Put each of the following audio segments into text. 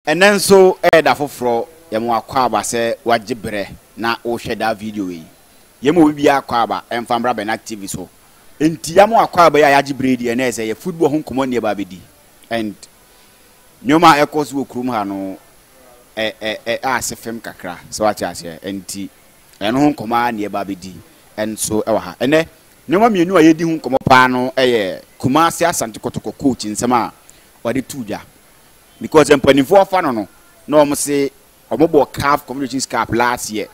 Ɛnnɛ nso yɛ da foforɔ. Yɛma wo akwaaba sɛ woagye berɛ na worehwɛ daa video wei. Yɛma obibiara akwaaba mfa mmra Bernard TV so. Enti yɛama wo akwaaba yi a yɛagye berɛ yi deɛ, ɛnnɛ yɛ sɛ yɛ football ho nkɔmmɔ nni ɛba abɛdi. And nneɛma a ɛrekɔ so wɔ kurom ha no, ɛ, ɛ, ɛ, a ase fem kakra, sɛ woate aseɛ. Enti ɛno ho nkɔmmɔ ara na yɛba abɛdi nso wɔ ha. Ɛnnɛ, nneɛma mmienu a yɛredi ho nkɔmmɔ paa no yɛ Kumasi Asante Kotoko coach nsɛm a ɔde too dwa. Because sɛ mpanimfoɔ afa no no na wɔn se wɔn bɔ CAF Confederations Cup last year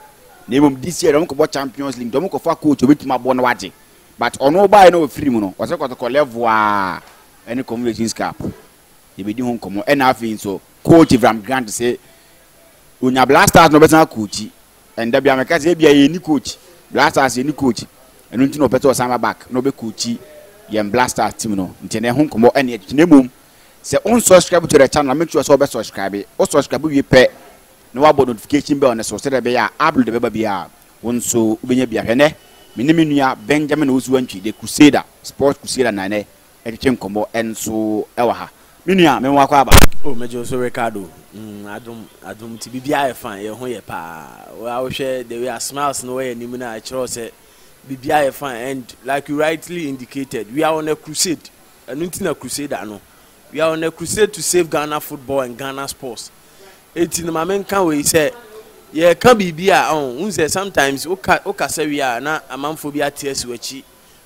na mmom this year wɔn kɔ bɔ Champions League nti wɔn kɔ fa coach obetumi abɔ na wagye but ɔno ɔbaa yɛ na ɔfiri mu no ɔsɛ kɔtɔkɔ level a ɛne Confederations Cup yɛbɛdi ho nkɔmɔ ɛna afei nso coach Avram Grant se onya Black Stars na ɔbɛsan coach ɛnda bia mɛka sɛ ebia yɛni coach Black Stars yɛni coach ɛno nti na ɔpɛ sɛ ɔsan ba back na ɔbɛ coach yɛn Black Stars team no nti na ɛho nkɔmɔ ɛne ɛtwitwi na mmom Sɛ wo nsɔskraibu to the channel a make sure sɛ wobɛ sɔskraibe. Wo sɔskraibe wie pɛ na wabɔ notification bell no so sɛdeɛ ɛbɛyɛ a upload a ɛbɛba biara wo nso wobɛnya bi ahwɛ. Ɛnnɛ me ne me nua Benjamin Owusu Antwi the Crusader, Sports Crusader na ɛnnɛ ɛtwetwe nkɔmmɔ nso wɔ ha. Me nua me wakɔ aba. Oh megye wo so Ricardo. Mm adom adom nti biribiara yɛ fine yɛn ho yɛ paa. Wo ara wohwɛ the way a smiles no wɔ yɛn anim no a ɛkyerɛ wo sɛ biribiara yɛ fine and like you rightly indicated we are on a crusade Ɛno nti na Crusader no, we are on a crusade to save Ghana football and Ghana sports. Enti no ma me nka wei sɛ yɛka biribi a ɔn, wohu sɛ sometimes woka wokasa wie a na amanfoɔ bi ate asi w'akyi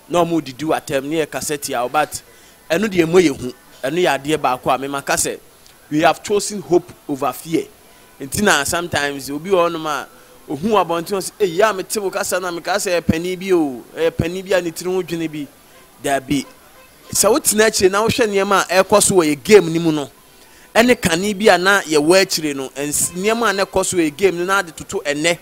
na wɔn redidi w'atɛm ne yɛkasa tia wo but ɛno deɛ mmɔ yɛ hu. Ɛno yɛ adeɛ baako a me maka sɛ we have chosen hope over fear. Enti na sometimes obi wɔ hɔnom a ohu abɔnten ɔse ei yɛ a mete wo kasa no a mekaa sɛ ɛyɛ panin bi o, ɛyɛ panin bi a ne tiri ho dwene bi. Dabi. Sɛ wotena akyire na wohwɛ nneɛma a ɛrekɔ so wɔ yɛn game no mu no, ɛne kane bi a na yɛwɔ akyire no, nneɛma a na ɛkɔ so wɔ yɛn game no na de toto ɛnnɛ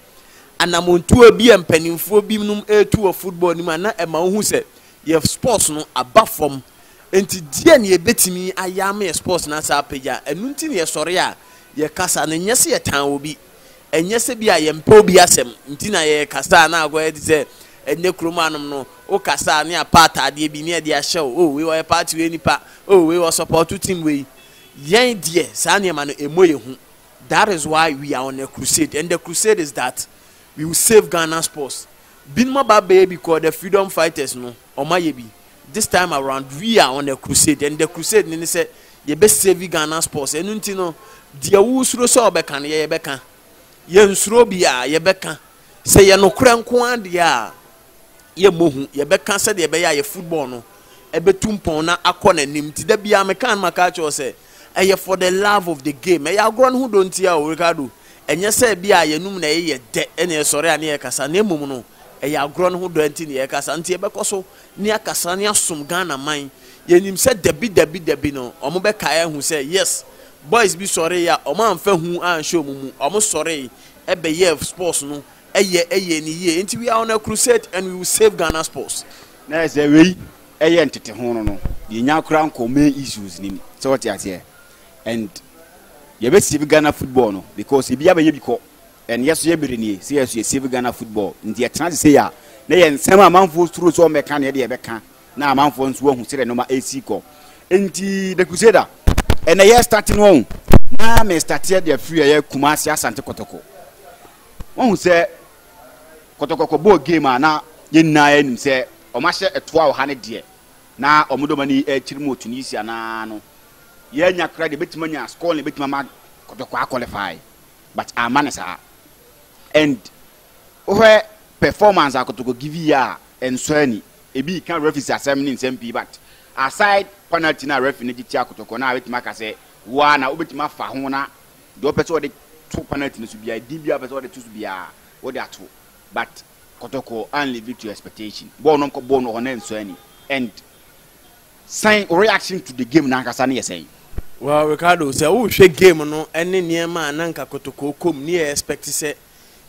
anammɔntuo bi a mpanimfoɔ binom retu wɔ football no mu a, na ɛma wohu sɛ yɛn sports no aba fam. Enti deɛn na yɛbɛtumi ayɛ ama yɛn sports no asan apagya? Ɛno nti na yɛsɔre a yɛkasa no, ɛnyɛ sɛ yɛtan obi. Ɛnyɛ sɛ ebia yɛmpɛ obi asɛm nti na yɛrekasa a na akɔyɛ te sɛ ɛnnɛ kurom hanom no, wokasa a ne apa ataadeɛ bi ne ɛde ahyɛ wo, oh wei ɔyɛ party wei nipa, oh wei ɔsɔpɔɔto team wei. Yɛn deɛ saa nneɛma no ɛmmɔ yɛn hu. That is why we are on a crusade and the crusade is that we will save Ghana sports. Binom aba abɛyɛ bi kɔɔ the freedom fighters no. wɔn ayɛ bi this time around we are on a crusade and the crusade ne ne sɛ yɛbɛ save Ghana sports ɛnu nti no deɛ wosuro sɛ ɔbɛka no yɛ yɛbɛka yɛn nsuro bi a yɛbɛka sɛ yɛ nokorɛ nko adeɛ a yɛ mmɔ hu yɛbɛka sɛdeɛ ɛbɛyɛ a yɛ football no ɛbɛtu mpɔn na akɔ n'anim ti da biara meka no maka akyerɛ sɛ Ɛyɛ for the love of the game. Ɛyɛ agorɔ no ho dɔ ntia o, Ricardo. Ɛnyɛ sɛ ebia yɛnum na ɛyeyɛ dɛ na yɛsɔre a na yɛkasa, na mmom no, ɛyɛ agorɔ no ho dɔ nti na yɛkasa. Nti yɛbɛkɔ so ne akasa ne asom Ghana man. Yɛnim sɛ dabi dabi dabi no, wɔn bɛkae ahu sɛ yes, boys bi sɔree a wɔn amfa hu anhyɛ wɔn mu, wɔn sɔree ɛbɛyɛɛ sports no ɛyɛ ɛyɛɛ no yie. Nti we are on a crusade and we will save Ghana sports. Na ɛsɛ wei Ɛyɛ ntete ho no no yɛ nya kora nkɔ main issues nim sɛ wɔte aseɛ and yɛ bɛ save Ghana football no because ebi abɛyɛ bi kɔ and yɛ so yɛ bere nie sɛ yɛ so yɛ save Ghana football nti yɛ tena se sei a na yɛ nsɛm a amanfoɔ suro sɛ wɔn bɛ ka no yɛ de yɛ bɛ ka na amanfoɔ nso ahu sɛdeɛ nnoɔma ɛsi kɔ nti the crusader ɛnɛ yɛ start no wɔn na mɛ start yɛ deɛ free ɛyɛ Kumasi Asante Kotoko wɔn sɛ kɔtɔkɔkɔ bɔɔ game a na yɛn nyinaa yɛnim sɛ wɔahyɛ ɛtoa ɔha no deɛ, na wɔn dɔm ani rekyere mu wɔ Tunisia no ara no, yɛannya koraa deɛ ɛbɛtumi anya scoreline a ɛbɛtumi ama kɔtɔkɔkɔ a qualify, but amma no saa. And wohwɛ performance a kɔtɔkɔkɔ give yɛ a, ɛnsɔ ani. Ebi reka referees asɛm ne nsɛm pii, but aside penalty no a referee no gye tiaa kɔtɔkɔkɔ no a, mɛtumi aka sɛ wo ara na wobɛtumi afa ho na deɛ ɔpɛ sɛ ɔde to penalty no so biara, edin biara a ɔpɛ sɛ ɔde to so biara, ɔde ato. But Kɔtɔkɔ and leave it to expectation. Bɔɔl no nkɔ bɔɔl no wɔ hɔ na ɛnsɔ ani. And sɛn wo reaction to the game no ankasa no yɛ sɛn? Well, Ricardo, sɛ wohwɛ game no ne nneɛma a na nka Kɔtɔkɔ rekɔ mu, ne yɛ expect sɛ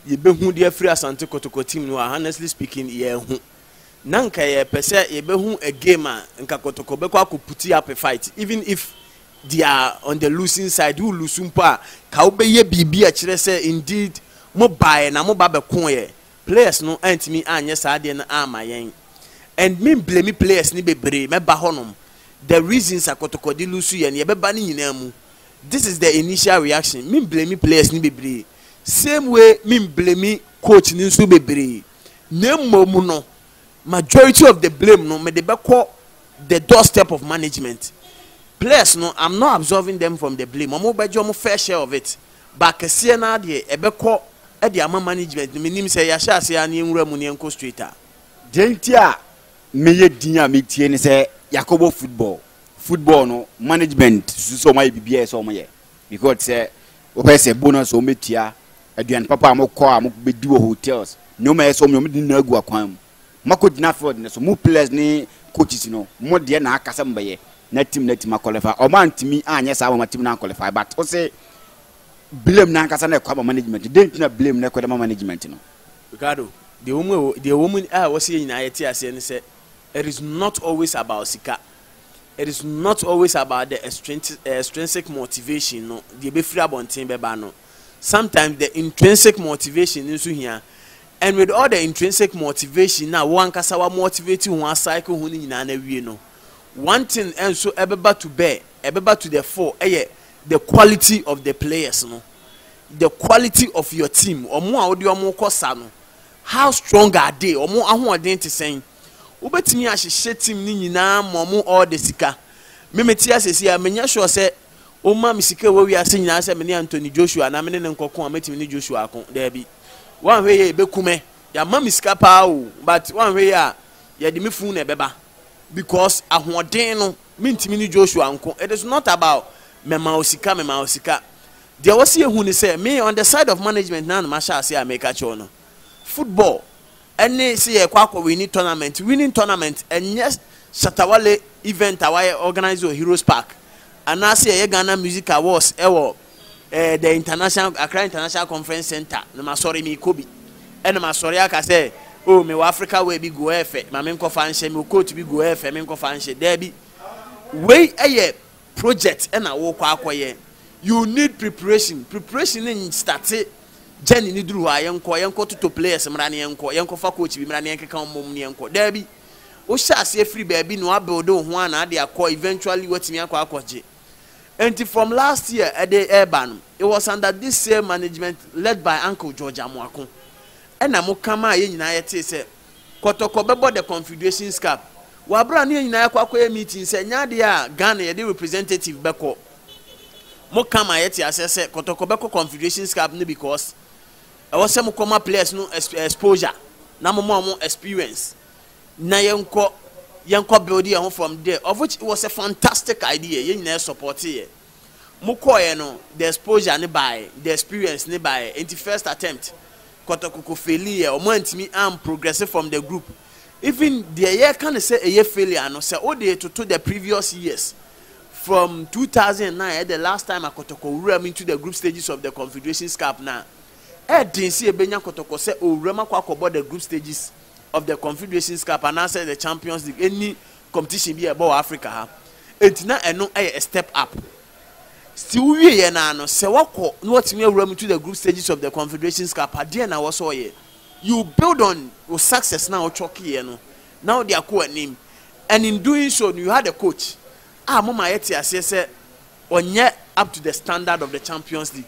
yɛbɛhu de afiri Asante Kɔtɔkɔ team no hɔ a, honestly speaking, yɛanhu. Na nka yɛpɛ sɛ yɛbɛhu a game a nka Kɔtɔkɔ bɛkɔ akɔ put up a fight, even if They are on the losing side, wo lusu mpo a, ka wo bɛyɛ biribi a ɛkyerɛ sɛ indeed mo baeɛ na mo ba bɛkoeɛ. Players no antumi anyɛ saa adeɛ no amma yɛn. And me mblame players no bebree, mɛba hɔ nom. The reasons a kɔtɔkɔde lusu yɛn no, yɛbɛba ne nyinaa mu. This is the initial reaction, me mblame players no bebree. Same way me mblame coach no nso bebree. Na mmom no, majority of the blame no mede bɛkɔ the door step of management ples no am not absorbing them from the blame ɔmo bɛgye ɔmo fair share of it but kɛseɛ no ara deɛ ɛbɛkɔ de ama management no menim sɛ yɛahyɛ aseɛ ara na yɛnwura mu na yɛnkɔ straight a. Deɛ nti a meyɛ din a metie ne sɛ yɛakɔbɔ football football no management susu sɛ ɔmo ayɛ biribiara a ɛsɛ sɛ ɔmo yɛ because sɛ wobɛyɛ sɛ bonus a ɔmo bɛtua Aduan papa a mokɔ a mobedi wɔ hotels, nneɛma a ɛyɛ sɛ wɔn yɛ wɔn de ne nyinaa gu akwan mu. Moakɔ gyina field no so, mo players ne coaches no, mo deɛ na aka sɛ mo bɛyɛ na team no atumi a qualify. Wɔn antumi anyɛ saa ama wɔn team no an qualify but wo se blame no ankasa na ɛkɔ ama management no, dɛn nti na blame no ɛkɔ de ma management no? Ricardo, deɛ ɛwɔ mu ɛwɔ, deɛ ɛwɔ mu a ɛwɔ sɛ yɛn nyinaa yɛte aseɛ ne sɛ it is not always about sika, it is not always about the extrinsic motivation no, deɛ ɛbɛfiri abɔnten bɛba no. sometimes the intrinsic motivation nso hia and with all the intrinsic motivation na wo ankasa wa motivate ho a cycle ho no nyinaa na wie no one thing nso ɛbɛba to bear ɛbɛba to the fore ɛyɛ the quality of the players no the quality of your team ɔmo a wode ɔmo kɔ sa no how strong are they ɔmo ahoɔden te sɛn wobɛtumi ahyehyɛ team no nyinaa ma ɔmo all the sika memete asɛsi a menya sure sɛ Womma me sika a ɛwɔ wiase nyinaa sɛ me ne Anthony Joshua anaa me ne no nkɔko a mɛtumi ne Joshua ako. Daabi. Woanhwɛ yie a, ɛbɛku me. Yɛama me sika pa ara o, but woanhwɛ yie a, yɛde me funu na ɛbɛba. Because ahoɔden no, mentumi ne Joshua nko. It is not about mɛma wo sika, mɛma wo sika. Deɛ ɛwɔ sɛ yɛhu ne sɛ, me on the side of management na na mahyɛ aseɛ a meka kyerɛ wo no. Football. ɛne sɛ yɛrekɔ akɔ winni tournament, winning tournament, ɛnyɛ shatawale event a wayɛ organise wɔ Heroes Park anaasɛ yɛyɛ Ghana Music Awards wɔ eh, the international, Accra International Conference Centre, na masɔre meekɔ bi, ɛna masɔre aka sɛ, oh, mewɔ Africa wear bi gu ɛyɛ fɛ, ma menkɔfa nhyɛ, mewɔ coat bi gu ɛyɛ fɛ, menkɔfa nhyɛ, daabi. Wei yɛ Project na wokɔ akɔyɛ you need preparation preparation ne nstate journey no duru hɔ a yɛnkɔ yɛnkɔ toto players mmra ne yɛnkɔ yɛnkɔ fa coach bi mmra ne yɛnkeka wɔn mmom ne yɛnkɔ daabi wohyɛ aseɛ firi baabi na wabuild wo ho a na ade akɔ eventually watumi akɔ akɔgye nti from last year ɛde ɛreba no it was under this same management led by uncle George Amoako ɛna mo ka maa yɛn nyinaa yɛtee sɛ Kɔtɔkɔ bɛbɔ the confederations cap. Wɔ aberɛ a ne yɛn nyinaa yɛakɔ akɔyɛ meeting sɛ ɛnyɛ adeɛ a Ghana yɛde representative bɛkɔ. Mo ka ma yɛte aseɛ sɛ Kɔtɔkɔ bɛkɔ confederations cap no because ɛwɔ sɛ mokɔ ma players no exposure na mo ma wɔn experience na yɛnkɔ yɛnkɔ build yɛn ho from there of which it was a fantastic idea yɛn nyinaa yɛ supporteeɛ. Mokɔeɛ no the exposure no baeɛ, the experience no baeɛ, enti first attempt kɔtɔkɔkɔ failiiɛ, wɔn antumi an progress from the group. Even deɛ yɛreka no sɛ ɛyɛ failure no, sɛ wode retoto the previous years from 2009 ɛyɛ the last time a kɔtɔkɔ wura mu into the group stages of the Confederations Cup no a, ɛyɛ den sɛ yɛbɛnya kɔtɔkɔ sɛ ɔrewura mu akɔ akɔbɔ the group stages of the Confederations Cup anaasɛ the Champions League, ɛnni competition bi a ɛbɔ wɔ Africa ha enti na ɛno yɛ a step up still wowie yɛ naa no sɛ wakɔ na watumi awura mu to the group stages of the Confederations Cup adeɛ na wɔsɔ ɔyɛ you build on wo success na wotwɔkeeɛ no na wode akɔ anim and in doing so you had a coach a moma yɛte aseɛ sɛ ɔnyɛ up to the standard of the Champions League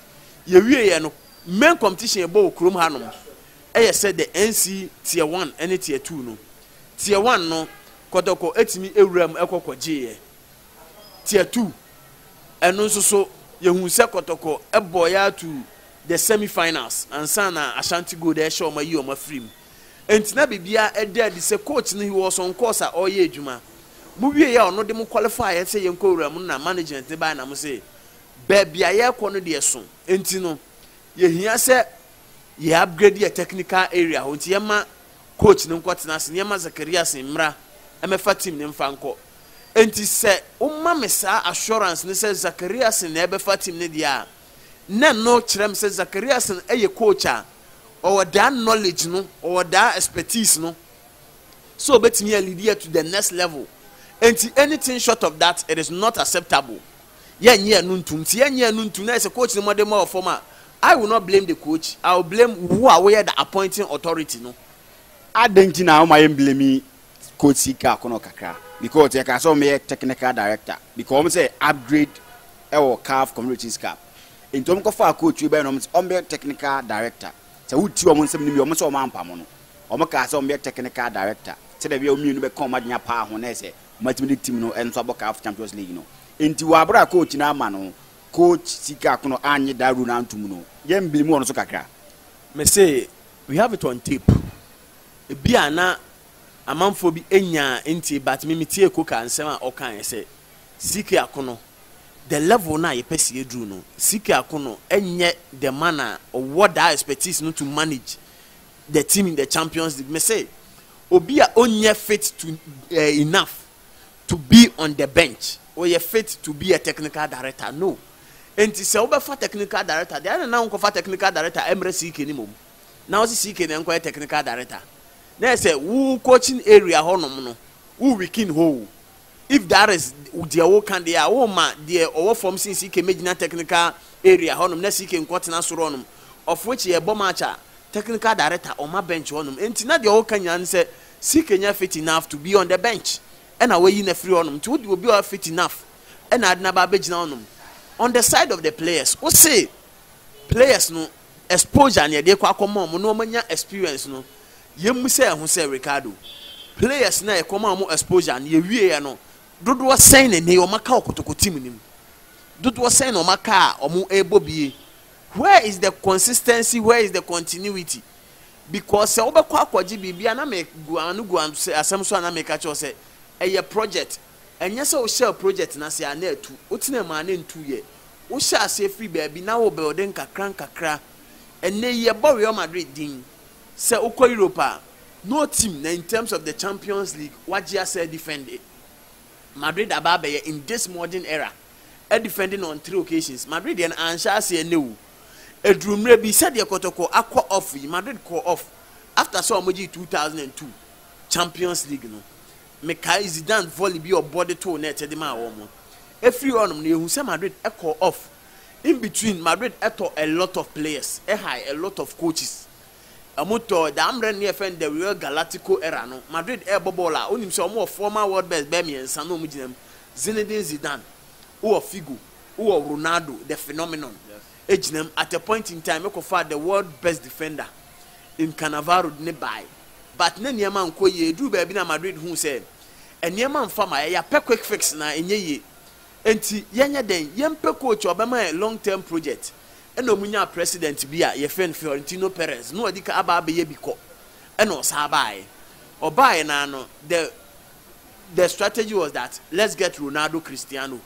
yɛwie yɛ no main competition ɛbɔ wɔ kurom hanom ɛyɛ sɛ the NC tier 1 ɛne tier 2 no Teɛ one no, kɔtɔkɔ tumi wura mu kɔ kɔgye yɛ. Teɛ two, ɛno nso so, yɛhuu sɛ kɔtɔkɔ bɔɔ yɛ ara to the semi finals ansa na Ashanti Gold rehyɛ wɔn ayi wɔn afiri mu. Enti na biribiara da adi sɛ coach no he was on course a ɔreyɛ adwuma. Mo wie yɛ a ɔno de mo qualify yɛ sɛ yɛnkɔ wura mu no na management no baeɛ na mo se baabi a yɛrekɔ no deɛ so enti no yɛhia sɛ yɛ upgrade yɛ technical area hɔ nti yɛma coach no nkɔ tena ase na yɛma Zacharias mmra mmɛfa team no mfa nkɔ. Enti sɛ woma me saa assurance no sɛ Zacharias na ɛbɛfa team no deɛ a, na ɛno kyerɛ me sɛ Zacharias yɛ coach a ɔwɔ daa knowledge no, ɔwɔ daa expertise no sɛ ɔbɛtumi a lead yɛ to the next level. Enti anything short of that, it is not acceptable. yɛnnye ɛno ntom. Sɛ yɛnnye ɛno ntom na ayɛ sɛ coach no mmɔdenmɔ wɔ fam a, I will not blame the coach, I will blame wo a woyɛ the appointing authority no. Adɛn nti na wɔayɛ me blame coach Sika Akono kakra because yɛkaa sɛ wɔyɛ technical director because wɔn sɛ upgrade wɔ CAF Confederations Cup nti wɔn kɔfaa coach yi bɛyɛ na wɔn sɛ wɔyɛ technical director sɛ woti wɔn nsɛm no mi wɔn sɛ wɔn ampamo no wɔn kaa sɛ wɔyɛ technical director sɛdeɛ bɛyɛ wɔn mmienu bɛka wɔn adwene apaa ho na ɛsɛ wɔatumi de team no nso abɔ CAF Champions League no. Enti wɔ aber a coach no ama no, coach Sika Akono annye da rule no annto mu no, yɛmmbleem hɔn so kakra. Mese we have it on tape. Ebia na amanfoɔ bi nnyaa nntie but me metiee Coca nsɛm a ɔkaeɛ sɛ Sika Akono, the level no a yɛpɛ sɛ yɛduru no, Sika Akono nyɛ the man a ɔwɔ that expertise no to manage the team in the champions league me se obi a onyɛ fit to uh, enough to be on the bench oyɛ fit to be a technical director no enti sɛ wobɛfa technical director deɛ ɛna na wonkɔfa technical director ɛmmerɛ siike ne mom na wose siike na ɛnkɔyɛ technical director na ɛsɛ wo coaching area hɔnom no wo weekend hoo if that is deɛ woka deɛ a woma deɛ ɔwɔ fam sin siike mɛgyina technical area hɔnom na siike nkɔtena soro hɔnom of which yɛbɔ match a Technical director ɔma bench hɔ nom nti na deɛ ɔka nyinaa ne sɛ CK nyɛ fit enough to be on the bench ɛna wayi no afiri hɔ nom nti wode obi a ɔyɛ fit enough ɛna ade no aba abɛgyina hɔ nom on the side of the players wose players no exposure na yɛde kɔ akɔma wɔn na wɔn anya experience no yɛmmusa yɛn ho sɛ Ricardo players no a yɛkɔma wɔn exposure no yɛwieɛ no dodoɔ sɛn na ɛnɛ wɔn aka wɔ kotoko team no mu dodoɔ sɛn na wɔn aka a wɔn ɛrebɔ bie Where is the consistency, where is the continuity? Because sɛ wobɛkɔ akɔgye biribi a na me gu ano gu asɛm so a na meka kyerɛ wo sɛ ɛyɛ project. Ɛnyɛ sɛ wo hyɛɛ project no aseɛ a na atu, wo tenaa mu a na ɛntuiɛ. Wo hyɛɛ aseɛ firi baabi na wo build nkakra nkakra. Ɛnnɛ yi yɛbɔ Real Madrid din. Sɛ wo kɔ Europe a, no team na in terms of the Champions League wagye asɛ defend Madrid aba abɛyɛ in this modern era. defending on three occasions, Madrid deɛ no anhyɛ aseɛ nnɛ o. Ɛduru mmerɛ bi, sɛdeɛ kɔtɔkɔ akɔ off yi, Madrid kɔɔ off after sɛ wɔgyee 2002 Champions League no. Mekae Zidane volley bi a ɔbɔ de too net de maa wɔn. Ɛfiri hɔnom no, yɛhu sɛ Madrid kɔɔ off. In between, Madrid tɔ a lot of players, ɛhae a lot of coaches. Ɔmo tɔ daa mmerɛ no ne yɛfrɛ no the Real Galactico era no, Madrid ɛɛbɔ bɔɔl a wonim sɛ ɔmo wɔ former world best bɛyɛ mmiɛnsa na ɔmo gyina mu, Zinedine Zidane, wowɔ Figo, wowɔ Ronaldo the phenomenon gyina mu, at a point in time ɛkɔ faa the world best defender in Cannavaro de no baae but na nneɛma nkɔ yie, ɛduruu baabi na Madrid huu sɛ nneɛma mfa ma yɛn, yɛapɛ quick fix na ɛnyɛ yie, ɛnti yɛnyɛ dɛn, yɛmpɛ coach a ɔbɛma yɛn long term project Ɛna ɔmo nyaa president bi a yɛfrɛ no Fiorentino Perez na ɔdi kan aba abɛyɛ bi kɔ ɛna ɔsan baeɛ ɔbaeɛ no ara no the the strategy was that let's get Ronaldo Cristiano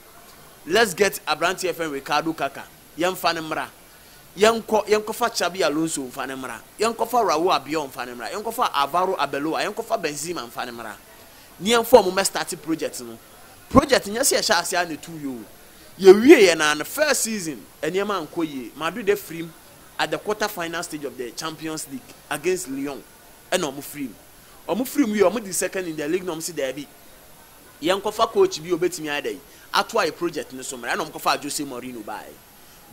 let's get abranteɛ yɛfrɛ no Ricardo Kaka yɛnfa no mmra yɛnkɔ yɛnkɔfa Xabi Alonso nfa no mmra yɛnkɔfa Raul Albiol nfa no mmra yɛnkɔfa Alvaro Arbeloa yɛnkɔfa Benzema nfa no mmra ne yɛnfa ɔmo mmɛ starte project no project nyɛ sɛ yɛhyɛ aseɛ ara na ɛtuuiɛ o Yɛwieeɛ no ara no, first season, nneɛma ankɔ yie. Madrid afiri mu at the quarter final stage of the Champions League against Lyon na wɔfirii mu. Wɔfirii mu wieeɛ, wɔdii second in the league na wɔse daabi, yɛnkɔfa coach bi a ɔbɛtumi ayɛ dɛn, atoa yɛn project no so mmra. Ɛna wɔkɔfaa Jose Mourinho baeɛ.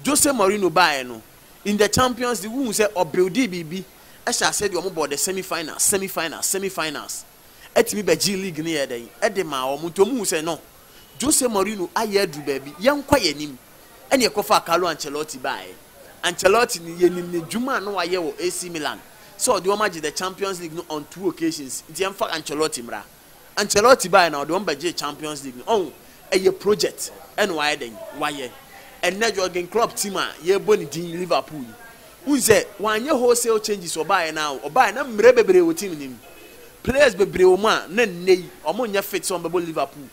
Jose Mourinho baeɛ no, in the Champions League, wohuu sɛ ɔbuildii biribi, ɛhyɛɛ aseɛ de wɔbɔɔ the semi-finals, semi-finals, semi-finals. tumi bɛgyee league no yɛɛ dɛn? de maa wɔn nti wɔhuu sɛ no, Jose Mourinho ayɛ aduru baabi, yɛnkɔ yɛn anim, ɛna yɛkɔfaa Carlo Ancelotti baeɛ. Ancelotti no, yɛnim n'adwuma a na wayɛ wɔ AC Milan sɛ ɔde wɔn agye the Champions League no on two occasions nti yɛmfa Ancelotti mmra. Ancelotti baeɛ na ɔde wɔn bɛgyee Champions League no. Ɔho, ɛyɛ project ɛna wayɛ dɛn? Wayɛ. Ɛnnɛ Jurgen Klopp team a yɛrebɔ ne din Liverpool yi, Wohu sɛ wanyɛ wholesale changes ɔbaeɛ no ara o, ɔbaeɛ na mmerɛ bebree wɔ team no mu, players bebree wɔ mu a na nnɛ yi wɔn nyɛ fit sɛ wɔn bɛbɔ Liverpool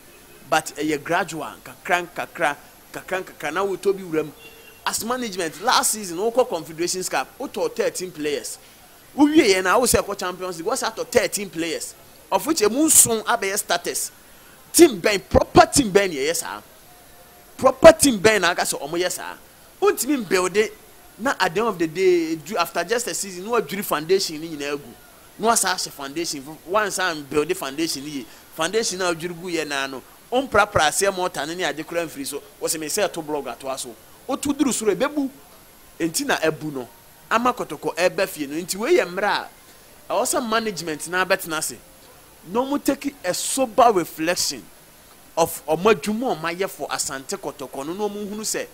but ɛyɛ gradual, nkakra nkakra, nkakra nkakra na wotɔ bi wura mu. As management, last season wokɔ Confederations Cup wotɔɔ thirteen players, wowieɛ no a wosɛ kɔ Champions League woasan atɔ thirteen players of which ɛmu nson abɛyɛ starters. Team bɛn, proper team bɛn na ɛyɛ saa? Proper team bɛn na aka sɛ wɔyɛ saa? Wontumi mbuilde na at the end of the day edu after just a season na wɔadwiri foundation no nyinaa agu na wɔasan ahyɛ foundation foforo. Woansan ambuilde foundation no yie. Foundation no a wodwiri guiɛ no ara no, womprapraa aseɛ mortar no ne ade koraa amfiri so. Wɔse mensɛ ɛto block atoa so. Woto duru soro a, ɛbɛbu. Enti na abu no ama kɔtɔkɔ reba fie no. Enti wei yɛ mmerɛ a ɛwɔ sɛ management no ara bɛtena ase na wɔtake a sober reflection. of wɔn adwuma a wɔayɛ for Asante Kɔtɔkɔ no na wɔhunu sɛ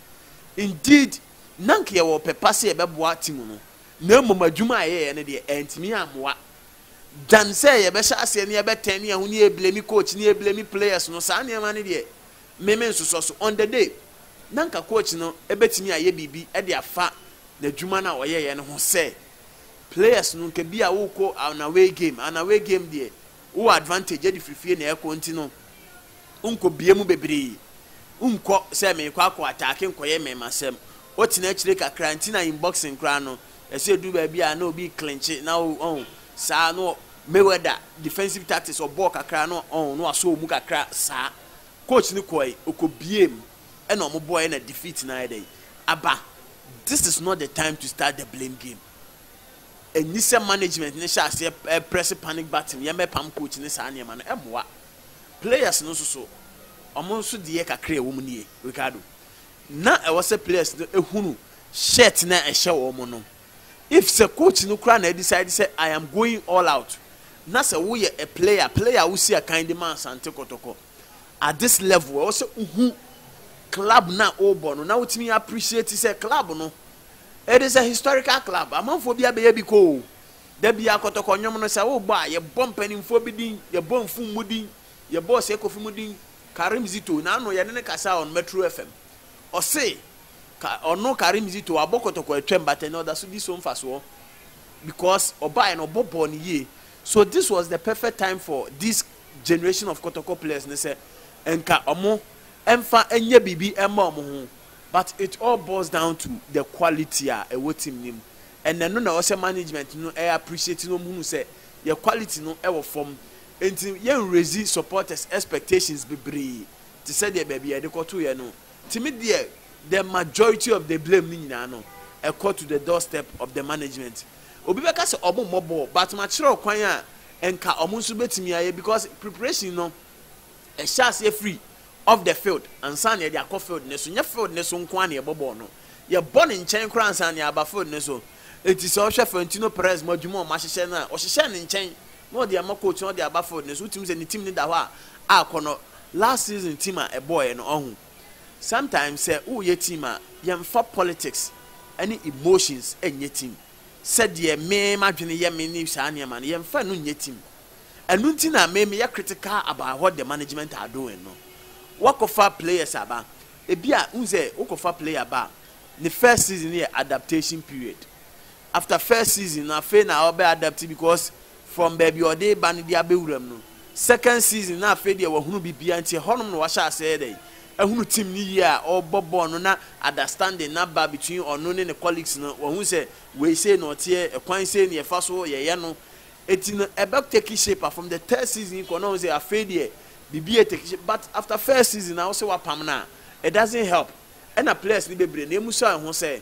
indeed na nka yɛwɔ ɔpɛ pa sɛ yɛbɛboa team no na mmom adwuma a yɛyɛeɛ no deɛ antumi ammoa than sɛ yɛbɛhyɛ aseɛ ne yɛbɛtɛn ne yɛn ho ne yɛblame coach ne yɛblame players no saa nneɛma no deɛ me me nsosɔ so on the day na nka coach no bɛtumi ayɛ biribi de afa n'adwuma no a ɔyɛeɛ no ho sɛ players no nka bi a wokɔ an away game an away game deɛ Wo wɔ advantage de firi fie na ɛkɔ nti no nkɔ bie mu bebree nkɔ sɛ mekɔ akɔ ataake nkɔyɛ mmɛmasɛm wotena akyire kakra nti na inboxing koraa no ɛsɛ ɛduru baabi a na obi clinche na wo ɔn saa no Mayweather defensive tactics ɔbɔɔ kakra no ɔn no asɔ ɔmu kakra saa coach no kɔe ɔkɔ bie mu ɛna ɔmo bɔɔɛ na defeat no ayɛ dɛn aba this is not the time to start the blame game Ɛnni sɛ management no hyɛ aseɛ prɛse panic button, yɛmmɛpam coach ne saa nneɛma no, ɛmmoa. Players no nso so, wɔn nso deɛ kakra a ɛwɔ mu nie, Ricardo, na ɛwɔ sɛ players no hunu shirt no a ɛhyɛ wɔn no. If sɛ coach no koraa na adecide sɛ I am going all out, na sɛ woyɛ a player, player a wosi akan de ma Asante Kɔtɔkɔ, at this level ɛwɔ sɛ wohu club no a wobɔ no na wotumi appreciate sɛ club no it is a historical club amanfoɔ bi abɛyɛ bi kɔ o da bi akɔtɔkɔ nnwom no sɛ wobɔ a yɛbɔ mpanimfoɔ bi din yɛbɔ mfum mu din yɛbɔ ɔsɛ kofi mu din Karim Zito na ano yɛne ne kasa on Metro FM ɔse ka ɔno Karim Zito abɔ kɔtɔkɔ atwam but ɛnɛ ɔda so di so mfasoɔ because ɔbaeɛ no ɔbɔ bɔɔ no yie so this was the perfect time for this generation of kɔtɔkɔ players ne sɛ nka ɔmo ɛnfa ɛnyɛ biribi ɛmma ɔmo ho but it all boils down to the quality a ɛwɔ team no mu and ɛno na ɛwɔsɛ management no ɛyɛ appreciate na ɔmo hunu sɛ yɛ quality no ɛwɔ fam nti yɛ nraise supporters expectations bebree te sɛ deɛ baabi a yɛde kɔto yɛ no nti me deɛ the majority of the blame no nyinaa no ɛkɔ to the doorstep of the management Obi bɛka sɛ ɔmo mmɔ bɔɔl but makyerɛw kwan a nka ɔmo nso bɛtumi ayɛ because preparation no ɛhyɛ aseɛ firi off the field ansa na yɛde akɔ field no so. Nyɛ field no so nko ara na yɛbɔ bɔɔl no, yɛbɔ no nkyɛn koraa ansa na yɛaba field no so. Enti sɛ wohwɛ Florentino Perez mo adwuma a ɔmo ahyehyɛ no a, ɔhyehyɛɛ no nkyɛn na ɔde ama coach na ɔde aba field no so. Wotumi hu sɛ ne team no da hɔ a akɔnɔ last season team a ɛbɔɔeɛ no, ɔho. Sometimes sɛ woreyɛ team a, yɛmfa politics ne emotions nyɛ team. Sɛdeɛ me m'adwene yɛ me ne saa nneɛma no, yɛmfa ɛno nyɛ team. Ɛno nti na me meyɛ critical about what the management are doing no. Woakɔfa players aba, ebi a wohu sɛ wokɔfa player ba a, ne first season no yɛ adaptation period. after first season no afei na ɔbɛ adapt because from baabi a ɔde reba no de abɛ wura mu no second season no afei deɛ wahunu biribiara nti ɛhɔ nom na wahyɛ aseɛ yɛ dɛn ahunu team no yie a ɔrebɔ bɔɔl no na adastanding no aba between ɔno ne ne colleagues no wahu sɛ wei sei na ɔteɛ ɛkwan sei na yɛfa so yɛyɛ no ɛti no ɛbɛ take shape a from the third season yi kɔ na ɔhu sɛ afei deɛ biribi yɛ take shape but after first season na wo sɛ wapam no a it doesn't help. Ɛna players no bebree na emusa wɔn ho sɛ,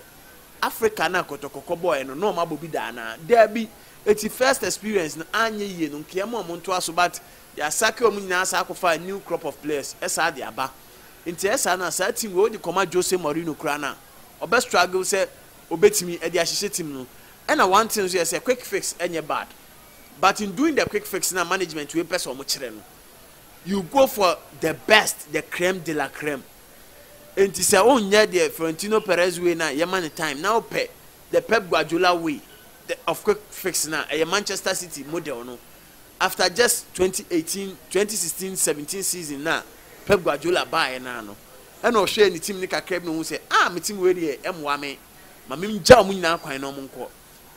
Africa no a kɔtɔkɔ kɔbɔɔɛ no, na wɔn abɔ bi da anaa? Daabi! Eti first experience no anyɛ yie no, nkaeɛ ma wɔn ntoa so but they are sacking wɔn nyinaa saa akɔfa a new crop of players ɛsaa de aba. Nti ɛyɛ saa no a, saa team wei wode kɔma Jose Mourinho koraa no a, ɔbɛ struggle sɛ obetumi ɛde ahyehyɛ team no. Ɛna one thing nso yɛ sɛ quick fix ɛnyɛ bad but in doing the quick fix no a management wei pɛ sɛ wɔn kyerɛ no, you go for the best, the creme de la creme. Enti sɛ wonyɛ deɛ Florentino Perez way no a, yɛma no time, na wopɛ the Pep Guardiola way of quick fix no a, ɛyɛ Manchester City model no, after just 2018, 2016, 17 season no a Pep Guardiola baeɛ no ara no, ɛna ɔhwɛɛ ne team no kakra bi na ɔhuu sɛ, ah, me team wei deɛ ɛmmoa me, ma mengya wɔn nyinaa kwan na wɔnkɔ.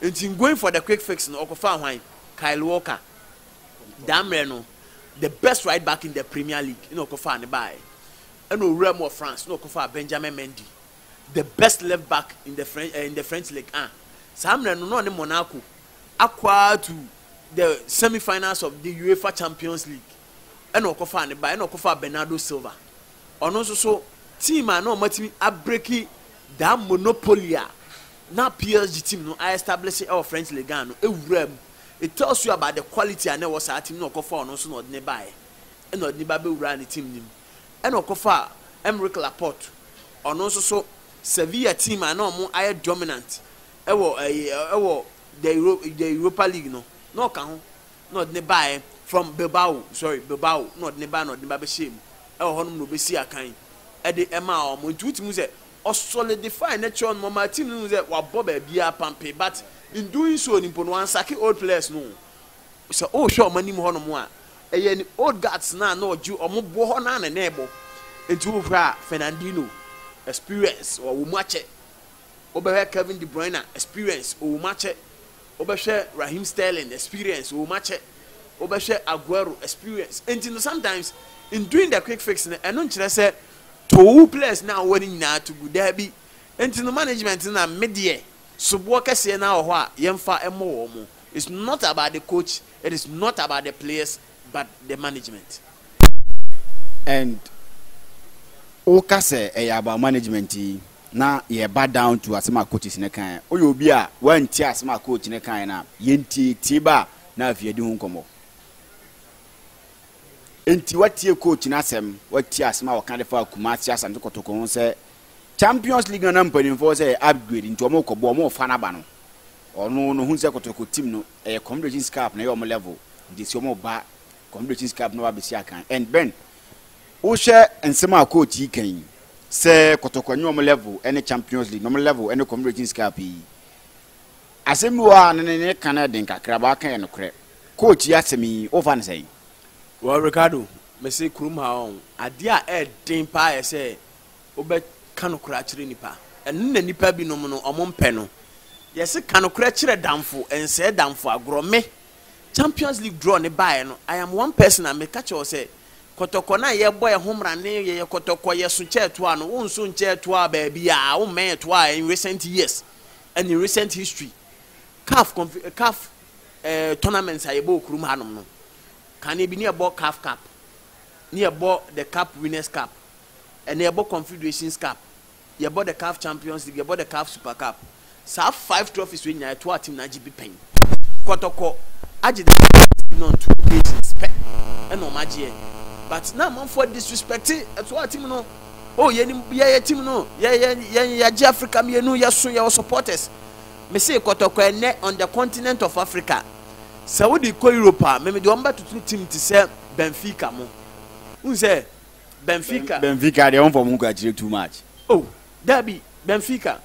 Enti in going for the quick fix no, ɔkɔfaa hwan? Kyle Walker. Daa mmerɛ no, the best right back in the Premier League ɛna ɔkɔfaa no baeɛ. Ɛna ɔwuraa mu wɔ France na ɔkɔfaa Benjamin Mendy, the best left back in the French, eh, in the French Ligue 1. Saa mmerɛ no na ɔne Monaco akɔ ara to the semi-finals of the UEFA Champions League. Ɛna ɔkɔfaa no baeɛ, ɛna ɔkɔfaa Bernardo Silva. Ɔno nso so team a na wɔatumi abreki daa monopoly a na PSG team no a-establish wɔ French Ligue 1 no ɛwuraa mu It tells you about the quality a na ɛwɔ saa team no na ɔkɔfaa ɔno nso na ɔde no baeɛ ɛna ɔde no ba bɛwuraa ne team no mu. Ɛna ɔkɔfaa Aymeric Laporte ɔno nso so Sevilla team a na wɔn ayɛ dominant ɛwɔ ɛyi ɛwɔ the Euro the Europa League no na ɔka ho na ɔde no baeɛ from Bilbao sorry Bilbao na ɔde no baeɛ na ɔde no ba bɛhyɛɛ mu ɛwɔ hɔnom na ɔbɛsii akan ɛde ɛmaa wɔn nti wotumi hu sɛ ɔsolidifae ne kyerɛw no ma ɔmaa team no hui sɛ wabɔ baabiara pampe but in doing so no mpo no wansake old players no o. Sɛ wohwɛ wɔn anim hɔnom a, ɛyɛ ne old guards no a na ɔgye wɔn boɔ hɔ no ara na na ɛbɔ. Nti wohwɛ a Fernandinho, experience ɔwɔ mu akyɛ. Wobɛhwɛ Kevin De Bruyne, experience ɔwɔ mu akyɛ. Wobɛhwɛ Raheem Sterling, experience ɔwɔ mu akyɛ. Wobɛhwɛ Aguero, experience. Nti no sometimes in doing the quick fix no, ɛno nkyerɛ sɛ Tow wo players no a wowɔ no nyinaa to gu. Dabi. Enti no management no na me deɛ soboɔ kɛseɛ no ara wɔ hɔ a yɛmfa mmɔ wɔn. It's not about the coach, it is not about the players but the management. And woka sɛ ɛyɛ about management yi na yɛba down to asɛm a coaches no kaeɛ. Woyɛ obi a woantie asɛm a coach no kaeɛ no a, yɛntiatie ba a na afei yɛdi ho nkɔmmɔ. Enti woatie coach no asɛm, woatie asɛm a ɔka de faa Kumasi Asante Kotoko ho sɛ Champions League no na mpanimfoɔ sɛ ɛyɛ upgrade nti wɔrekɔbɔ, wɔrefa no aba no, ɔno no hu sɛ Kotoko team no ɛyɛ Confederations Cup na ɛyɛ wɔn level nti ɛsɛ wɔba Confederations Cup na wɔaba abɛsi akan. And Ben, wohwɛ nsɛm a coach yi ka yi sɛ Kotoko ɛnyɛ wɔn level ne Champions League na wɔn level ne Confederations Cup yi, Asɛm bi wɔ hɔ a ne ne ka no yɛ den kakra but waka yɛ nokorɛ. Coach yi asɛm yi wo fa no sɛn? Well Ricardo, me se kurom ha ɔn, adeɛ a ɛɛden paa yɛ sɛ wo bɛ ka nokorɛ akyerɛ nipa. Ɛno na nipa bi nom no ɔmo mpɛ no. Yɛ se ka nokorɛ kyerɛ damfo, nsɛɛ damfo agorɔ. Me, Champions League draw no baeɛ no, I am one person a me ka kyerɛ wo sɛ, kɔtɔkɔ no a yɛ bɔ yɛ ho mmra ne yɛ yɛ kɔtɔkɔ yɛ so kyɛɛ toa no, wo nso nkyɛɛ toaa baabiaa, wo mmɛɛ toaa in recent years. and in recent history caf conf caf eh, tournaments a yɛbɔ okurum hanom no kane bi ne yɛbɔ caf cup ne yɛbɔ the cup winners cup ɛna yɛbɔ confederations cup yɛbɔ the caf champions league yɛbɔ the caf super cup saa five trophies wei nyinaa ɛtoa team no agye bi pɛn kɔtɔkɔ agye da no on two occasions pɛ ɛna ɔmo agyeɛ but na amanfoɔ disrespect ɛtoa team no o oh, yɛnim bia yɛ tim no yɛn yɛgye africa mmienu yɛso yɛwɔ supporters mese kɔtɔkɔ ɛnɛ on the continent of africa sɛ wode kɔ europe a memede wɔn bɛtoto tim te sɛ benfica mo wohu sɛ benfica benfica deɛ wɔmfa mo nkwakyerɛ too much o oh, dabi benfica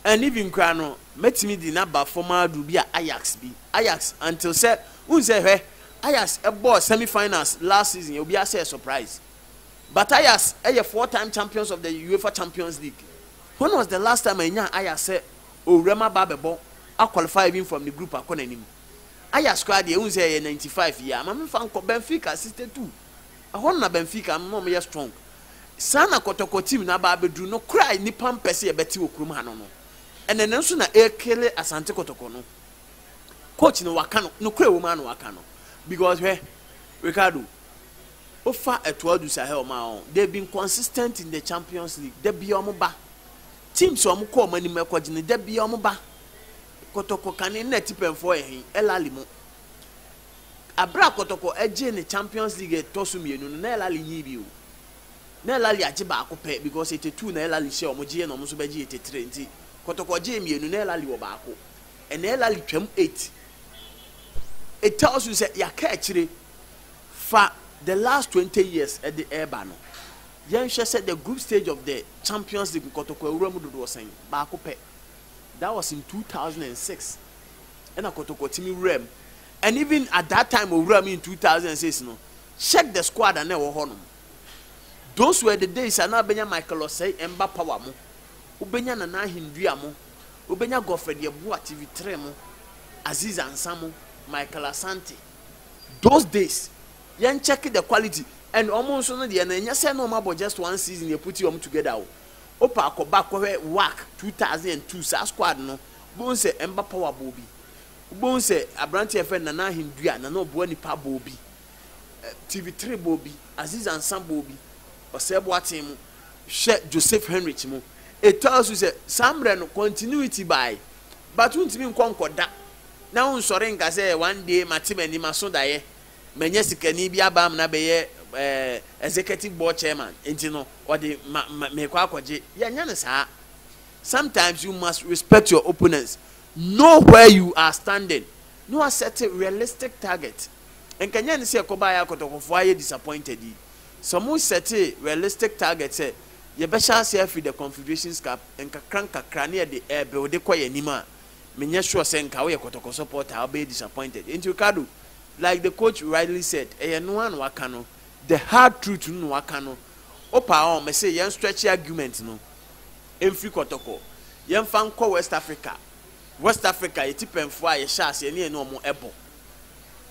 and even koraa no mɛtumi de naba fam aduru bi a ajax bi ajax until sɛ wohu sɛ hwɛ ajax ɛbɔɔ semi finals last season obiara sɛ surprise Bataillaz yɛ four time champions of the UEFA Champions League. When was the last time a yɛnyaa Ajax sɛ owuram aba abɛbɔ a qualify even from ne group akɔ n'anim? Ajax koraa deɛ wohu sɛ ɛyɛ ninety five yi a ma memfa nkɔ Benfica sixty two ɛhɔ no na Benfica no na wɔyɛ strong saa na kɔtɔkɔ team no aba abɛduru nokorɛ a nnipa mpɛ sɛ yɛbɛte wɔ kurom ha no no ɛnɛ no nso na ɛrekele Asante Kɔtɔkɔ no coach no waka no nokorɛ wɔ mu a na waka no because hwɛ Ricardo Wofa Eto'o du Sahel ma wɔn. They have been consistent in the Champions League. Da biara wɔba. Teams a wɔkɔ wɔn anim ɛkɔgye no, da biara wɔba. Kɔtɔkɔ kane nna atipɛnfoɔ yɛ he? El Ahly mo. Abere a Kɔtɔkɔ ɛgye ne Champions League ɛtɔ so mmienu no, na El Ahly nyi bi o. Na El Ahly agye baako pɛ because etetu na El Ahly hyɛ wɔn gyeeɛ na wɔn nso bɛgye etetere nti Kɔtɔkɔ gyee mmienu na El Ahly wɔ baako. Ɛnna El Ahly twam eight. It tells you sɛ yɛaka akyire. Fa the last twenty years de reba no, yɛnhwɛ sɛ the group stage of the Champions League nkɔtɔkɔ awura mu dodoɔ sɛn? Baako pɛ. That was in two thousand and six ɛna kɔtɔkɔ tumi wuraa mu and even at that time ɔwuraa mu in two thousand and six no, check the squad a na ɛwɔ hɔ nom. Those were the days a na wobɛnya Michael Osei, Emba Power mo, wobɛnya Nana Ahendua mo, wobɛnya Godfred Yeboah TV3 mo, Azeez Ansah mo, Michael Asante. Those days yɛn check the quality and ɔmo nso no deɛ no ɛnyɛ sɛ na ɔmo abɔ just one season yɛ puti ɔmo together o wopɛ a kɔba kɔhwɛ WAC two thousand and two saa squad no wobɛhu sɛ ɛmba power bɔɔ bi wobɛhu sɛ abranteɛ yɛfrɛ no Nana Ahendua Nana Ɔboa Nipa bɔɔ bi TV three bɔɔ bi Aziz Ansa bɔɔ bi Ɔsɛɛ Boaten mu hwɛ Joseph Henrich mu it tells you sɛ saa mmerɛ no continuity by But wontumi nkɔ nkɔda na wonsɔre nka sɛ one day mate m'ani maso daeɛ, manya sikani bi aba amena bɛyɛ executive board chairman nti no ɔde ma mekɔ akɔgye. Yɛnyɛ no saa. Sometimes you must respect your opponents, know where you are standing na wa set realistic target. Nka nyɛ ne sɛ yɛkɔbaa yɛ akɔtɔkɔfoɔ ayɛ disappointed yi. Sɛ wɔn set realistic target sɛ yɛbɛhyɛ aseɛ afiri the Confederations Cup, nkakrankakra na yɛde ɛɛbuilde kɔ yɛn anim a, menyɛ sure sɛ nka woyɛ kɔtɔkɔ supporter a wobɛyɛ disappointed. Enti Ricardo, like the coach rightly said, ɛyɛ ɛno ara na waka no, the hard truth no na waka no. Wopa a, mese yɛn stretche argument no mfiri kɔtɔkɔ, yɛmfa nkɔ West Africa. West Africa, yɛn atipɛnfoɔ a yɛhyɛɛ aseɛ ne yɛne wɔn ɛbɔ.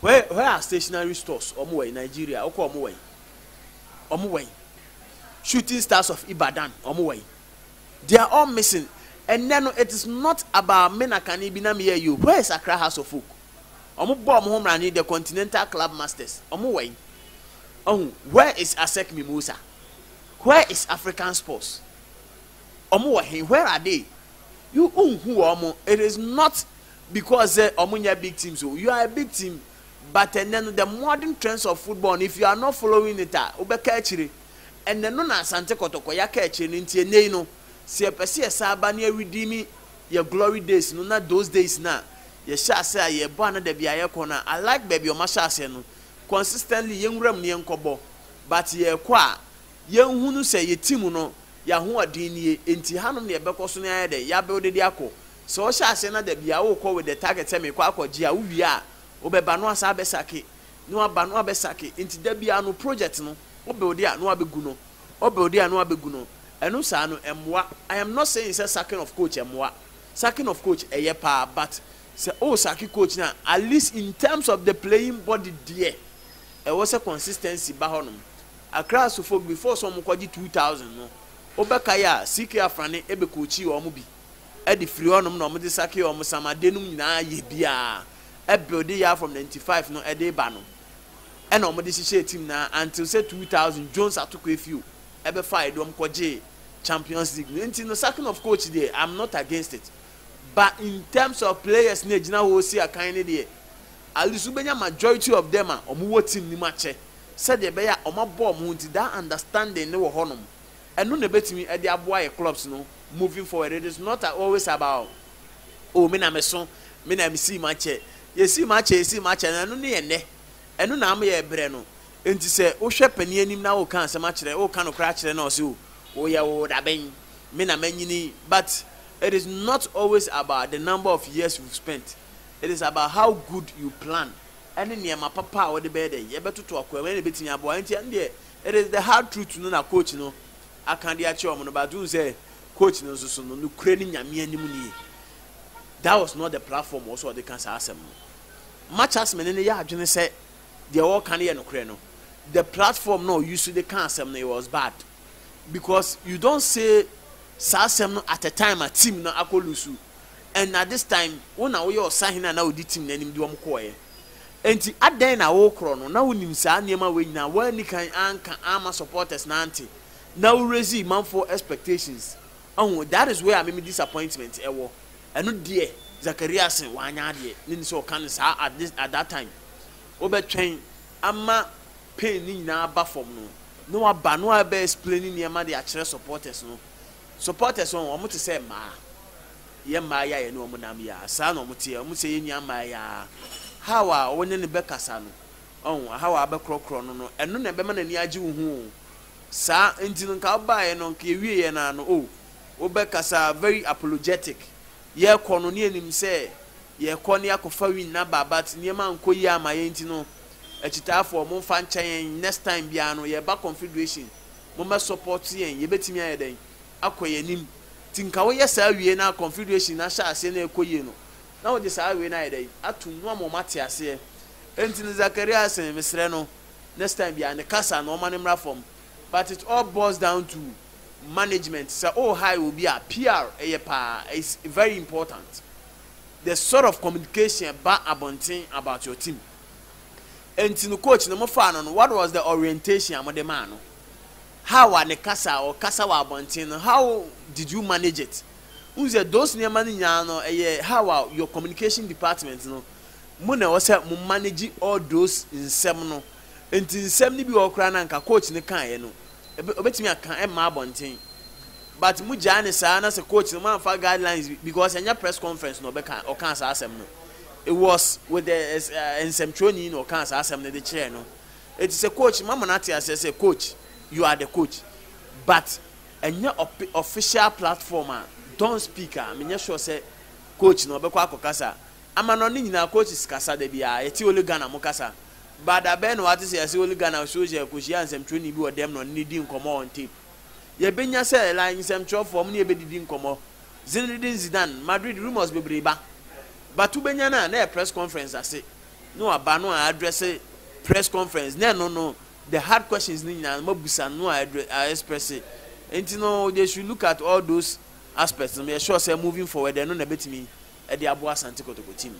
Where, where are stationary stores? Wɔn wɔ yi, Nigeria, wokɔ wɔn wɔ yi? Wɔn wɔ yi? Shooting Stars of Ibadan, wɔn wɔ yi? They are all missing Ɛnnɛ no it is not about me na kane bi na meyɛ you where is Accra House of Folk? Ɔmo bɔɔ ɔmo ho mmara ne the Continental Club Masters ɔmo wɛn? Wahu where is Asec Mimosa? Where is African Sports? Ɔmo wɔ he? Where are they? You wonhu wɔ ɔmo it is not because sɛ ɔmo nyɛ big teams o you are a big team but ɛnnɛ no the modern trends of football no if you are not following it a wobɛka akyire. Ɛnnɛ no na Asante Kɔtɔkɔ yɛaka akyire no nti ɛnnɛ yi no sɛ yɛpɛ sɛ yɛsan aba na yɛredeeme yɛ glory days no na those days no a yɛhyɛ aseɛ a yɛrebɔ a na dabi a yɛkɔ no a I like baabi a wɔahyɛ aseɛ no consistently yɛnwura mu na yɛnkɔbɔ but yɛrekɔ a yɛnhunu sɛ yɛ team no yɛ ahoɔden nie nti hanom na yɛbɛkɔ so na yɛayɛ dɛn yɛabuilde de akɔ sɛ wohyɛ aseɛ na dabi a worekɔ with the target sɛ merekɔ akɔgye a wowie a wobɛba na woasan abɛsake na waba na wabɛ sake nti da biara no project no wo builde a na wabɛ gu no wo builde a na wabɛ gu no ɛno saa no ɛmmoa I am not saying sɛ saking of coach ɛmmoa saking of coach ɛyɛ paa but sɛ o sake coach no a at least in terms of the playing body deɛ ɛwɔ sɛ consistency ba hɔ nom Accra Asufo before sɛ wɔn kɔgye two thousand no wobɛkae a CK Afrane ɛbɛ coachi wɔn bi. de firi hɔnom na wɔde sakee wɔn samade nom nyinaa yɛ biaa ɛbuilde yɛa from ninety five no de ba no ɛna wɔde hyehyɛɛ team no ara until sɛ two thousand Jones Atoko Efio ɛbɛfaeɛ de wɔn kɔgyee Champions League no nti no sacking of coach deɛ I'm not against it but in terms of players no ɛgyina hɔ si akan no deɛ at least wobɛnya majority of them a wɔwɔ team no mu akyɛ sɛdeɛ ɛbɛyɛ a wɔabɔ wɔn ho nti that understanding no wɔ hɔnom Ɛno na ɛbɛtumi de aboa yɛ clubs no moving forward, it is not always about oh me na me so, me na me sii ma kyɛ, yɛ sii ma kyɛ, yɛ sii ma kyɛ no ɛno no yɛ nnɛ, ɛno na ama yɛ brɛ no, nti sɛ wo hwɛ panin anim na wo ka asɛm akyerɛ, wo ka nokorɛ akyerɛ no ɔse oh wo yɛ wo dabɛn, me na manyini but it is not always about the number of years you've spent, it is about how good you plan ɛne nneɛma papa a wo de bɛyɛ dɛn, yɛ bɛtoto akoa mu, ɛno na ɛbɛtumi aboa, nti ɛno deɛ It is the hard truth no na coach no aka de akyerɛ wɔn no but wohu sɛ coach no nso so no nokorɛ ne Nyame anim nie that was not the platform wɔ sɛ ɔde ka saa asɛm no much as mene no yɛ adwene sɛ deɛ wɔka no yɛ nokorɛ no the platform na ɔyi so de ka asɛm no it was bad because you don't say saa asɛm no at a time a team no akɔ lusu and at this time wo na woyɛ ɔsahene a na ɔdi team no anim de wɔn kɔɔeɛ Enti adɛn na wokorɔ no na wonim saa nneɛma wei nyinaa woanni kan anka amma supporters no ante na wo raisee manfoɔ expectations ahu that is where me me disappointment wɔ ɛno deɛ Zakaria se wanyɛ adeɛ ne ni sɛ ɔka no saa at this at that time wobɛtwɛn ama pain no nyinaa aba fam no na waba na wabɛ explain nneɛma de akyerɛ supporters no supporters wɔn wɔn te sɛ mmaa Yɛn mmaa yi a yɛne wɔn nam yi ara, saa na wɔteɛ. Wɔn sɛ yɛn nua mmaa yi ara. How a wo ne no bɛkasa no, ɔho, how a wobɛkorɔkorɔ no no, ɛno na ɛbɛma n'ani agye wo ho o. Saa nti no, nka wobaeɛ no, nka yɛwieeɛ no ara no, oh, wobɛkasa very apologetic. Yɛrekɔ no, na yɛnim sɛ yɛrekɔ na yɛakɔfa win no aba, but nneɛma ankɔ yie amma yɛn nti no, akyitaafoɔ, momfa nkyɛ yɛn, next time biara no, yɛreba Confederation, mommɛsupport yɛn. Yɛbɛtumi ayɛ dɛn? akɔ yɛn anim nti nka woyɛ saa wie na confederation no ahyɛ aseɛ na ɛkɔ yie no na wode saa wei no ayɛ dɛn atom no ama wɔn ate aseɛ ɛnti no Zakaria se mesrɛ no next time biara ne kasa no ɔma no mmra fam but it all boils down to management sɛ o hire obi a PR ɛyɛ paa is very important the sort of communication ɛba abɔnten about your team ɛnti no coach no mo faa no no what was the orientation a mo de maa no How a ne kasa a ɔkasa wɔ abɔnten no, how did you manage it? Wohu sɛ those nneɛma no nyinaa no, ɛyɛ how a your communication department no, mo na ɛwɔ sɛ mo manage all those nsɛm no. Enti nsɛm no bi wɔ hɔ koraa no a anka coach no kaeɛ no, ɛbɛ, ɔbɛtumi aka ɛmma abɔnten. But mogyaa no saa na sɛ coach no, moamfa guidelines bi, because ɛnyɛ press conference na ɔbɛka, ɔkaa saa asɛm no. It was with the, eh, nsɛmtwerɛni na ɔkaa saa asɛm no de kyerɛɛ no. Eti sɛ coach mama no ate aseɛ sɛ coach you are the coach but ɛnyɛ ɔpe official platform a don't speak a menyɛ sure sɛ coach no ɔbɛkɔ akɔ kasa ama no ne nyinaa coaches kasa da biaa yɛte only Ghana mo kasa but da bɛn na wate sɛ yɛse only Ghana so sɛ kɔhyia nsɛmtwerɛni bi wɔ dɛm na ɔne no di nkɔmmɔ on tape yɛbɛnya sɛ like nsɛmtwerɛfoɔ ɔmo ne yɛbɛdidi nkɔmmɔ Zinedine Zidane Madrid rumours bebree ba but wobɛnya no a na ɛyɛ press conference ase ne waba no a addresse press conference na ɛno no the hard questions no nyinaa no mabusa no a express nti no they should look at all those aspects no meyɛ sure sɛ moving forward ɛno na ɛbɛtumi ɛde aboa Asante Kotoko team no.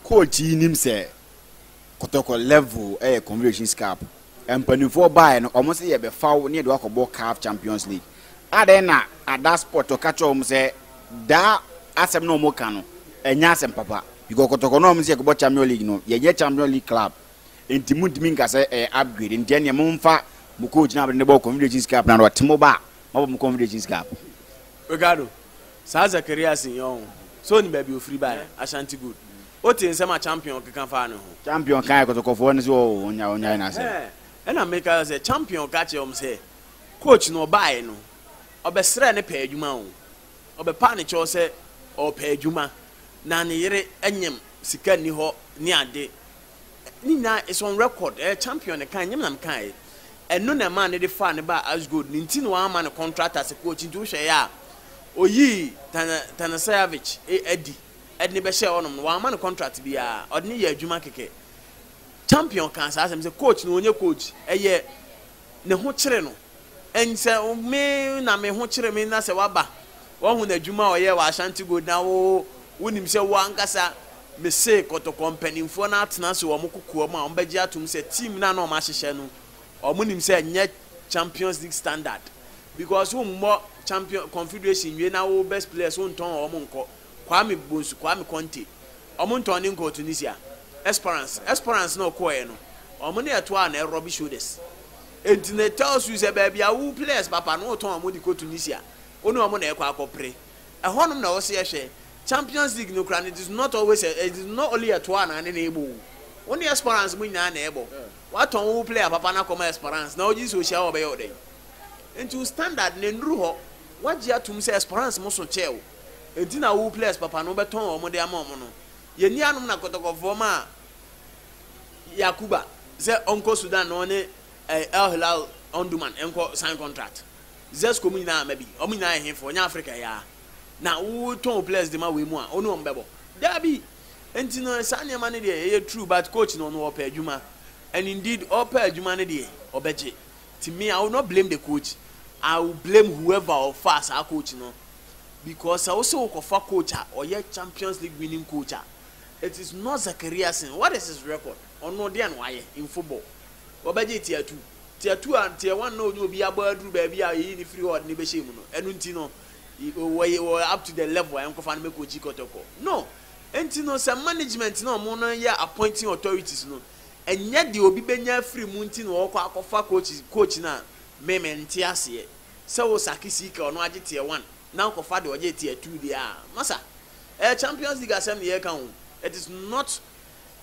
Coach yi nim sɛ Kotoko level yɛ Confederations Cup Mpanimfoɔ baeɛ no, wɔn se yɛbɛfa wo ne yɛde wo akɔbɔ caf Champions League. Adɛn na Ada Sport ɔka kyerɛɛ wɔn sɛ daa asɛm no a wɔka no ɛnyɛ asɛm papa. Because kɔtɔkɔ no a wɔn se yɛkɔbɔ Champions League no, yɛnyɛ Champions League club. Nti montumi nka sɛ ɛyɛ upgrade. Nti ɛneɛ momfa mo coach no a mode no bɔɔ Confederations Cup no a na ɔte mo ba a, moabɔ mo Confederations Cup. Ricardo, saa Zacharias yi ɔn, sɛ onim baabi ofiri baeɛ? Ashanti good. O te nsɛm a Champion keka faa ne ho. Champion kae kɔtɔkɔfoɔ no sɛ oo ɔnyae ɔnyae n'asɛm. Ɛhɛɛ ɛna meka sɛ Champion ka kyerɛɛ wɔn sɛ coach no ɔbaeɛ no ɔbɛsrɛɛ ne pɛɛ adwuma oo, ɔbɛpaa ne kyɛw sɛ ɔɔpɛ adwuma na ne yere nyem sika nni hɔ ne ade ne nyinaa is on record ɛyɛ Champion na ɛkaeɛ nyem na mekaeɛ ɛno na ɛmaa no de faa no baa Asgold ne nti na wamma no contract as a coach nti wohwɛeɛ a ɔyii Tanaseavic adi. de no bɛhyɛɛ hɔnom no, wɔamma no kɔntrat biara, ɔde no yɛɛ adwuma kɛkɛ. Champion kaa saa asɛm sɛ, Coach no, ɔnyɛ coach, ɛyɛ ne ho kyere no. And sɛ me na me ho kyere me na sɛ woaba, woahu n'adwuma a ɔyɛɛ wɔ Ashanti Gold na wo, wonim sɛ wo ankasa, mese kɔtɔkɔ mpanimfoɔ no atena ase wɔ wɔn kokoam a wɔbɛgye atom sɛ team no a na wɔahyehyɛ no, wɔnim sɛ ɛnyɛ Champions League standard. Because wommɔ Champion, Confederation nwie na wo best players wontɔn wɔn nkɔ. Kwame Bonsu, Kwame Konte, wɔn ntɔn ne nkɔɔ Tunisia, Esperance, Esperance na ɔkɔɔɛ no, wɔn na ɛtoaa na rubby shoulders. Enti na it tells you sɛ baabi a wo players papa no wotɔn wɔn de kɔ Tunisia, wo ne wɔn na ɛkɔ akɔpre. Ɛhɔnom na wɔse ɛhwɛ. Champions League no koraa no, it is not always a, it is not only ɛtoaa na ne na ɛbɔ o. Wo ne Esperance mo nyinaa na ɛbɔ. Woatɔn wo player papa no akɔma Esperance na wogye di sɛ ohyia wo a ɔbɛyɛ wo dɛn? Enti wo standard no ɛnnuru hɔ. Woagye atom sɛ Esperance mo so kyɛɛ wo. Enti na wo players papa no wobɛtɔn wɔn de ama wɔn no. Yɛn nuanom na kɔtɔkɔfoɔ maa Yakuba sɛ ɔnkɔ Sudan na ɔne eh, El Hilal Omdurman nkɔ sign contract. Zesco mu nyinaa ama bi. Wɔn nyinaa yɛ hefoɔ, nyɛ Africa yi ara. Na wotɔn wo players de ma wei mu a, wo ne wɔn bɛbɔ? Daabi! Enti no saa nneɛma no deɛ ɛyɛ true but coach no ɔno ɔpɛ adwuma and indeed ɔpɛ adwuma no deɛ ɔbɛgye. Nti me I will not blame the coach, I will blame whoever ɔfaa saa coach no because sɛ wose wokɔfa coach a ɔyɛ Champions League winning coach a, it is not Zakariasen, what is his record? Ɔno deɛn na wayɛ in football? Ɔbɛgye tier two, tier two a tier one na ɔne obi abɔ aduru baabi a yɛyi no firi hɔ a ɔde no bɛhyɛ mu no, ɛno nti no ɔyɛ up to the level a yɛnkɔfa no mɛkɔkyi kɔtɔkɔ? No! Nti no sɛ management na wɔn no yɛ appointing authorities no, Ɛnyɛ deɛ obi bɛnya afiri mu nti na ɔɔkɔ akɔfa coaches coach no a me me nte aseɛ sɛ wo sake sika ɔno agye tier one na wo kɔfa deɛ ɔgye tier two deɛ aa masa ɛyɛ champions league asɛm na yɛɛka oo it is not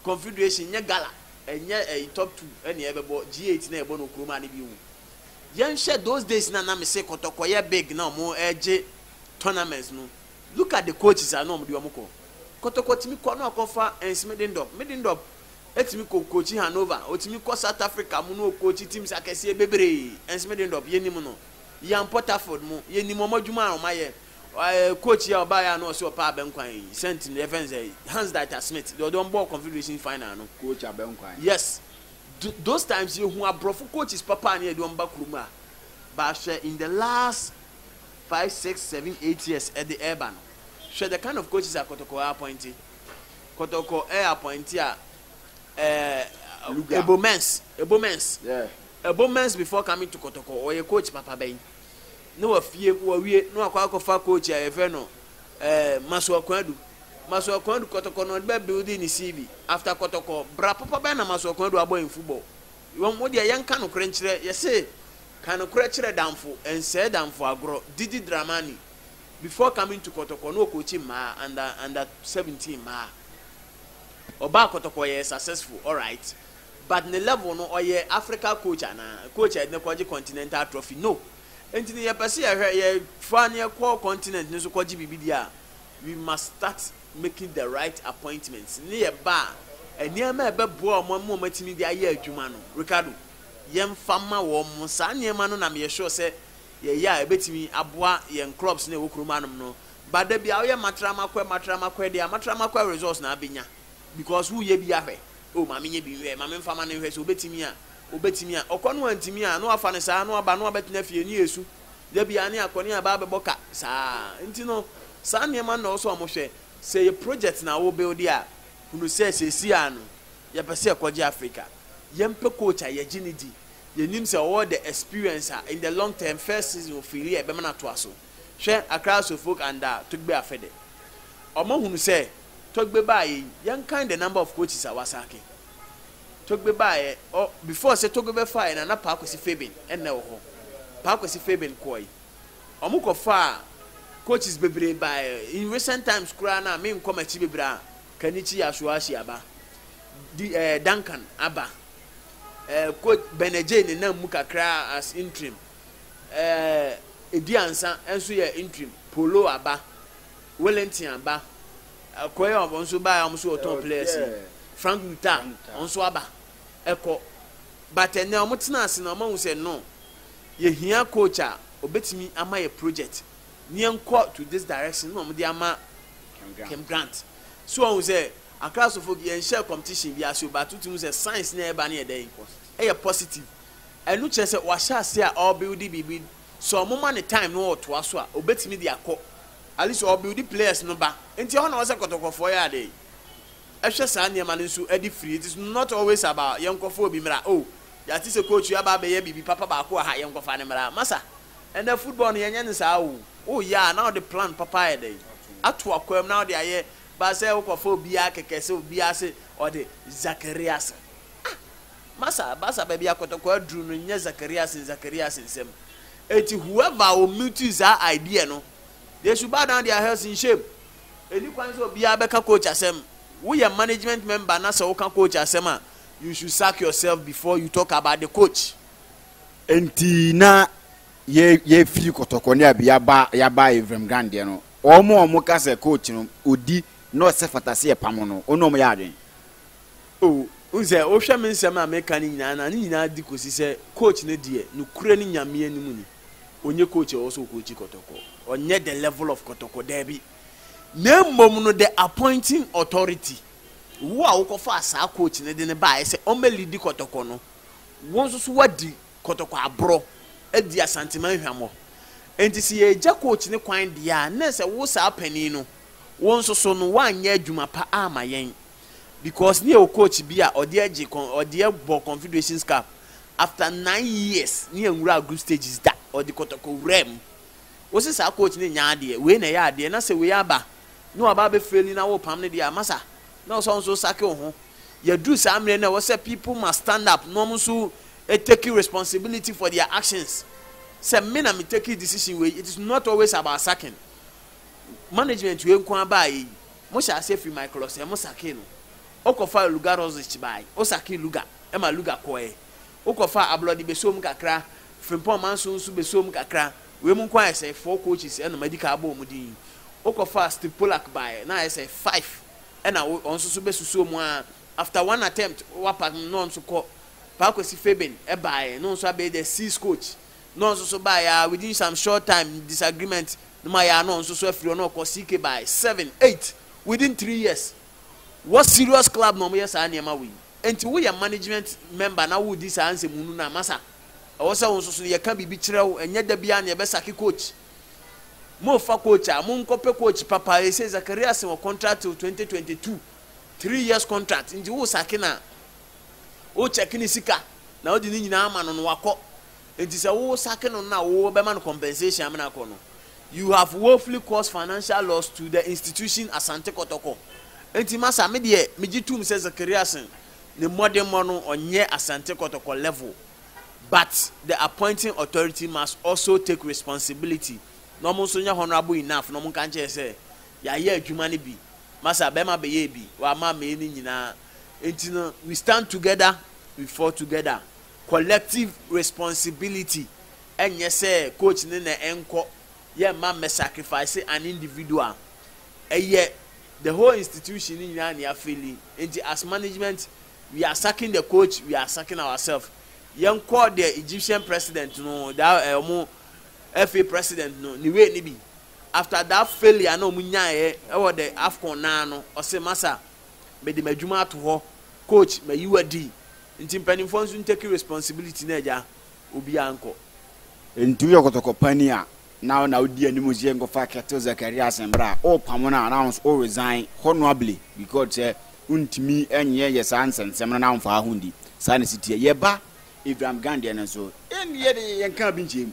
confederation nyɛ gala ɛnyɛ ɛyi top two ɛna ɛbɛbɔ G eight na yɛbɔ no okuromaa no bio yɛnhwɛ those days na na mese kɔtɔkɔ yɛ big na ɔmo ɛgye tournaments no look at the coaches a na ɔmo de ɔmo kɔ kɔtɔkɔ tumi kɔ na ɔkɔfa ɛnsmidendɔp midendɔp Etumi kɔ coachi Hannover, otumi kɔ South Africa mu na ɔcoachi teams akɛseɛ bebree, ɛnso Middendorp yɛnim no, Ian Porterford mo, yɛnim wɔn adwuma a wɔayɛ, ɛɛ coach yi a ɔbaeɛ a na ɔse ɔpɛ Abenkwan yi, Saint no, yɛfrɛ no sɛ Hans Dieter Smith, deɛ ɔde wɔn bɔɔ Confederation Final no. Coach Abenkwan. Yes. Tho, those times yɛhu aborɔfo coaches papa a na yɛde wɔn ba kurom a, but hwɛ in the last five, six, seven, eight years ɛde ɛreba no, hwɛ the kind of coaches a Kotoko appointe. Kɔtɔkɔ ɛ apɔinti a ɛ Ebomens Ebomens Ebomens before coming to Kɔtɔkɔ ɔyɛ coach papa bɛn ne wɔ fie wɔ wie ne wakɔ akɔfa coach a yɛfrɛ no ɛ Masuakuadu Masuakuadu Kɔtɔkɔ na ɔde bɛ building ne CV after Kɔtɔkɔ bra papa bɛn na Masuakuadu abɔ in football wɔn mo deɛ yɛn ka nokorɛ nkyerɛ yɛse ka nokorɛ kyerɛ damfo ɛnsɛɛ damfo agorɔ didi Dramani. Before coming to kɔtɔkɔ na ɔcoachi mmaa under under seventeen mmaa. Ɔbaa kɔtɔkɔ ɔyɛɛ successful alright but ne level no ɔyɛ Africa coach anaa? Coach a yɛde no kɔgye continental trophy no. Nti no yɛpɛ sɛ yɛhwɛ yɛfa no yɛkɔ continent no so kɔgye biribi deɛ a we must start making the right appointments ne yɛ ba a nneɛma a ɛbɛboa wɔn ama wɔatumi de ayɛ adwuma no Ricardo yɛmfa ma wɔn. Saa nneɛma no na meyɛ sure sɛ yɛyɛ a ɛbɛtumi aboa yɛn clubs no a ɛwɔ kurom hanom no ba da bi a woyɛ matramakwɛ matramakwɛ deɛ a matramakwɛ results na abɛnya because woyɛ bi ahwɛ o ma menyɛ bi nhwɛ ma memfa ma no nhwɛ sɛ obɛtumi a obɛtumi a ɔkɔ no antumi a na wafa no saa na waba na wabɛtena fie ne yɛsu da biara ne akɔ ne aba abɛbɔ ka saa nti no saa nneɛma na ɔsɛ ɔmo hwɛ sɛ yɛ project na wo build a hunu sɛ sɛsi a no yɛpɛ sɛ ɛkɔgye Africa yɛmpɛ coach a yɛgye ne di yɛnim sɛ ɔwɔ the experience a in the long term first season ɔfiiliɛ a ɛbɛma no atoa so. Hwɛ Accra Asofolk and a Togbe Afede. Wɔahunu sɛ Togbe baeɛ yi, yɛnkan the number of coaches a wɔasake Togbe baeɛ. Ɔ before sɛ Togbe bɛfaeɛ no a na Paa Kwesi Fabian na ɛwɔ hɔ. Paa Kwesi Fabian kɔe yi, wɔkɔfaa coaches bebree baeɛ. In recent times koraa no a menkɔ m'akyi bebree a, Kanichi Yasuashi aba, di ɛɛ Duncan aba. Coach Benejay nenam mu kakra as interim. Edi Ansa nso yɛ interim. Polo aba. Wellington aba. Akɔyɛ ɔbɔ nso baa a wɔn nso wɔ top players yi. Frank Luta wɔn nso aba. Ɛkɔ. But ɛnɛ wɔn tena ase na wɔn ahu sɛ no. Yɛhia coach a obetumi ama yɛ project ne yɛn kɔ to this direction na wɔn de ama Kem Grant. So wɔn sɛ Akraso folk yɛn nhyɛɛ competition bi ase o but wotim hu sɛ science na ɛba ne yɛ dɛn ɛyɛ positive ɛno kyerɛ sɛ wahyɛ ase a ɔrebuild biribi sɛ ɔmo ma no time na ɔtoa so a obetumi de akɔ at least ɔrebuild players no ba nti ɛhɔ na ɔsɛ kɔtɔkɔfoɔ yɛ adɛn ɛhwɛ saa nneɛma no nso ɛde firi it is not always about yɛn kɔfa obi mmra o oh, yɛate sɛ coach yɛ aba abɛyɛ biribi papa baako wɔ ha yɛn kɔfa ne mmra masa ɛnna football no yɛnyɛ ne saa o oh, oh yeah na ɔde plan papa ayɛ dɛn ato akwam na ɔde ayɛ Ba sɛ wokɔfa obiaa kɛkɛ sɛ obiaa se ɔde Zakariasen ah masa basa baabi a kɔtɔkɔ aduru no nyɛ Zakariasen Zakariasen nsɛm enti whoever ɔmutuii saa idea no they should bow down their heads in shame ɛni kwan sɛ obiaa bɛka coach asɛm woyɛ management member na sɛ woka coach asɛm a you should sack yourself before you talk about the coach. Enti na yɛ yɛfiri kɔtɔkɔ ne abi aba yɛaba Ephraim Gang deɛ no wɔn a wɔn ka sɛ coach no odi na ɔsɛ fata sɛ yɛpam no wɔn na wɔn yɛ adwene. Oh wohu sɛ wohwɛ me nsɛm a meka no nyinaa na ne nyinaa di kɔsi sɛ coach no deɛ nokorɛ no Nyame anim ni ɔnyɛ coach a ɔwɔ sɛ ɔcoachi kɔtɔkɔ ɔnyɛ the level of kɔtɔkɔ daabi na mmom no the appointing authority wo a wokɔfaa saa coach no de no baeɛ sɛ ɔmmɛlidi kɔtɔkɔ no wo nso so woadi kɔtɔkɔ aborɔ adi Asanteman hwammɔ. Enti sɛ yɛregya coach no kwan deɛ a, na ɛsɛ wo saa panin no, wo nso so no woanyɛ adwuma pa amma yɛn. Because na yɛwɔ coach bi a ɔdeɛ gye con, ɔdeɛ bɔ Confederations Cup after nine years, na yɛnwuraa group stages da, ɔde kɔtɔkɔ wuraa mu. Wo se saa coach no nyɛ adeɛ, wei na ɛyɛ adeɛ, na sɛ wei aba na waba abɛfaili na worepam no deɛ a, masa. na ɔsɛ nso sake wo ho yɛduru saa mmerɛ no ɛwɔ sɛ people must stand up na wɔn nso take responsibility for their actions sɛ me na me take decision wei it is not always about saking management wei nko abaa yi mo hyɛ aseɛ firi my close mo sake no ɔkɔfa luga rosic bae ɔsake luga ɛma luga kɔɛ Wokɔfa ablɔde bɛsɔ mu kakra, frimpong manso nso bɛsɔ mu kakra. Wei mu nko ara ayɛ sɛ four coaches ɛna madi kan abɔ wɔn din. Wokɔfaa Steve Polak baeɛ na ayɛ sɛ five ɛna ɔno nso so bɛsusoo mu ara. After one attempt wapa no na ɔno nso kɔ. Pa Kwesi Fabian baeɛ na ɔno nso abɛyɛ the six coach na ɔno nso so baeɛ ara within some short time disagreement no mu ayɛ ara na ɔno nso so afiri hɔ na ɔkɔ CK baeɛ seven, eight within three years. Wɔ serious club na wɔyɛ saa nneɛma wei. Enti woyɛ management member na woredi saa nsɛmhunu no a, masa. Ɛwɔ sɛ wo nso so no, yɛka biribi kyerɛ wo. Ɛnyɛ da biara na yɛbɛsake coach. Morefa coach a, monkɔpɛ coach papa. Ɛsei Zakaria se wɔ contract till 2022. Three years contract. Nti woresake no a, wokyɛke ne sika na wode ne nyinaa ama no na wakɔ. Enti sɛ wo sake no na wo bɛma no compensation amena akɔ no, you have woefully caused financial loss to the institution Asante Kɔtɔkɔ. Enti masa, me deɛ megye tom sɛ Zacharias ne mmɔdemmɔ no ɔnyɛ Asante Kɔtɔkɔ level but the appointing authority must also take responsibility na ɔmo nso nyɛ honourable enough na ɔmo nka nkyɛɛ sɛ yɛayɛ adwuma no bi masa bɛɛma bɛyɛɛ bi wɔ ama ammɛyɛ no nyinaa enti no we stand together we fall together. Collective responsibility nyɛ sɛ coach no na ɛnkɔ, yɛ mma mmɛ sacrifice an individual, ɛyɛ the whole institution no nyinaa na yɛafeeli, nti as management we are sacking the coach, we are sacking ourself, yɛnkɔ the Egyptian president no, that eh, ɔmo FA president no ne way no bi, after that failure na ɔmo nyaeɛ wɔ the Afcon no ara no, ɔse masa, mede madwuma ato hɔ coach mayi wo adi nti mpanimfoɔ nso ntake responsibility no agya obiara nkɔ. Nti woyɛ kɔtɔkɔ pani a na wo na wodi anim sɛ yɛnkɔfa Kettle Zacharias mbra a wopamo no a na wo nso wo resign honourably because sɛ wontumi nyɛ yɛ saa nsɛnsɛm no na womfaa ho ndi saa na ɛsi teɛ yɛba Abraham Grant deɛ no nso ɛnde yɛde yɛnkaa bi nkyɛɛ mu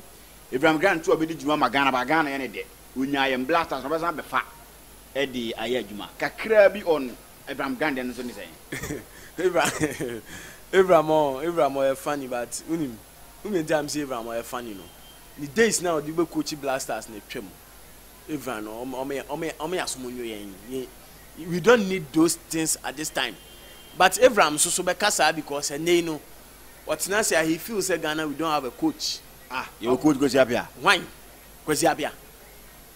Abraham Grant nso a ɔbɛdi dwuma ma Ghana but Ghana yɛ ne dɛ ɔnyaa yɛ mbra stars na ɔbɛsan abɛfa de ayɛ adwuma. Kakraa bi on Abraham Grant no nso ne sɛn? Abraham Abraham ɔɔ Abraham ɔyɛ funny but wonim wonim nti a mese Abraham ɔyɛ funny no ne days no a ɔde bɛ coachi blasters no atwam Abraham no ɔmo ɔmo yɛ ɔmo yɛ ɔmo yɛ asom nwo yɛn yɛn we don't need those things at this time but Abraham nso so bɛka saa because ɛnɛ yi no ɔtena ase a he feel sɛ Ghana we don't have a coach ah yɛwɔ coach Kwesi Appiah hwan Kwesi Appiah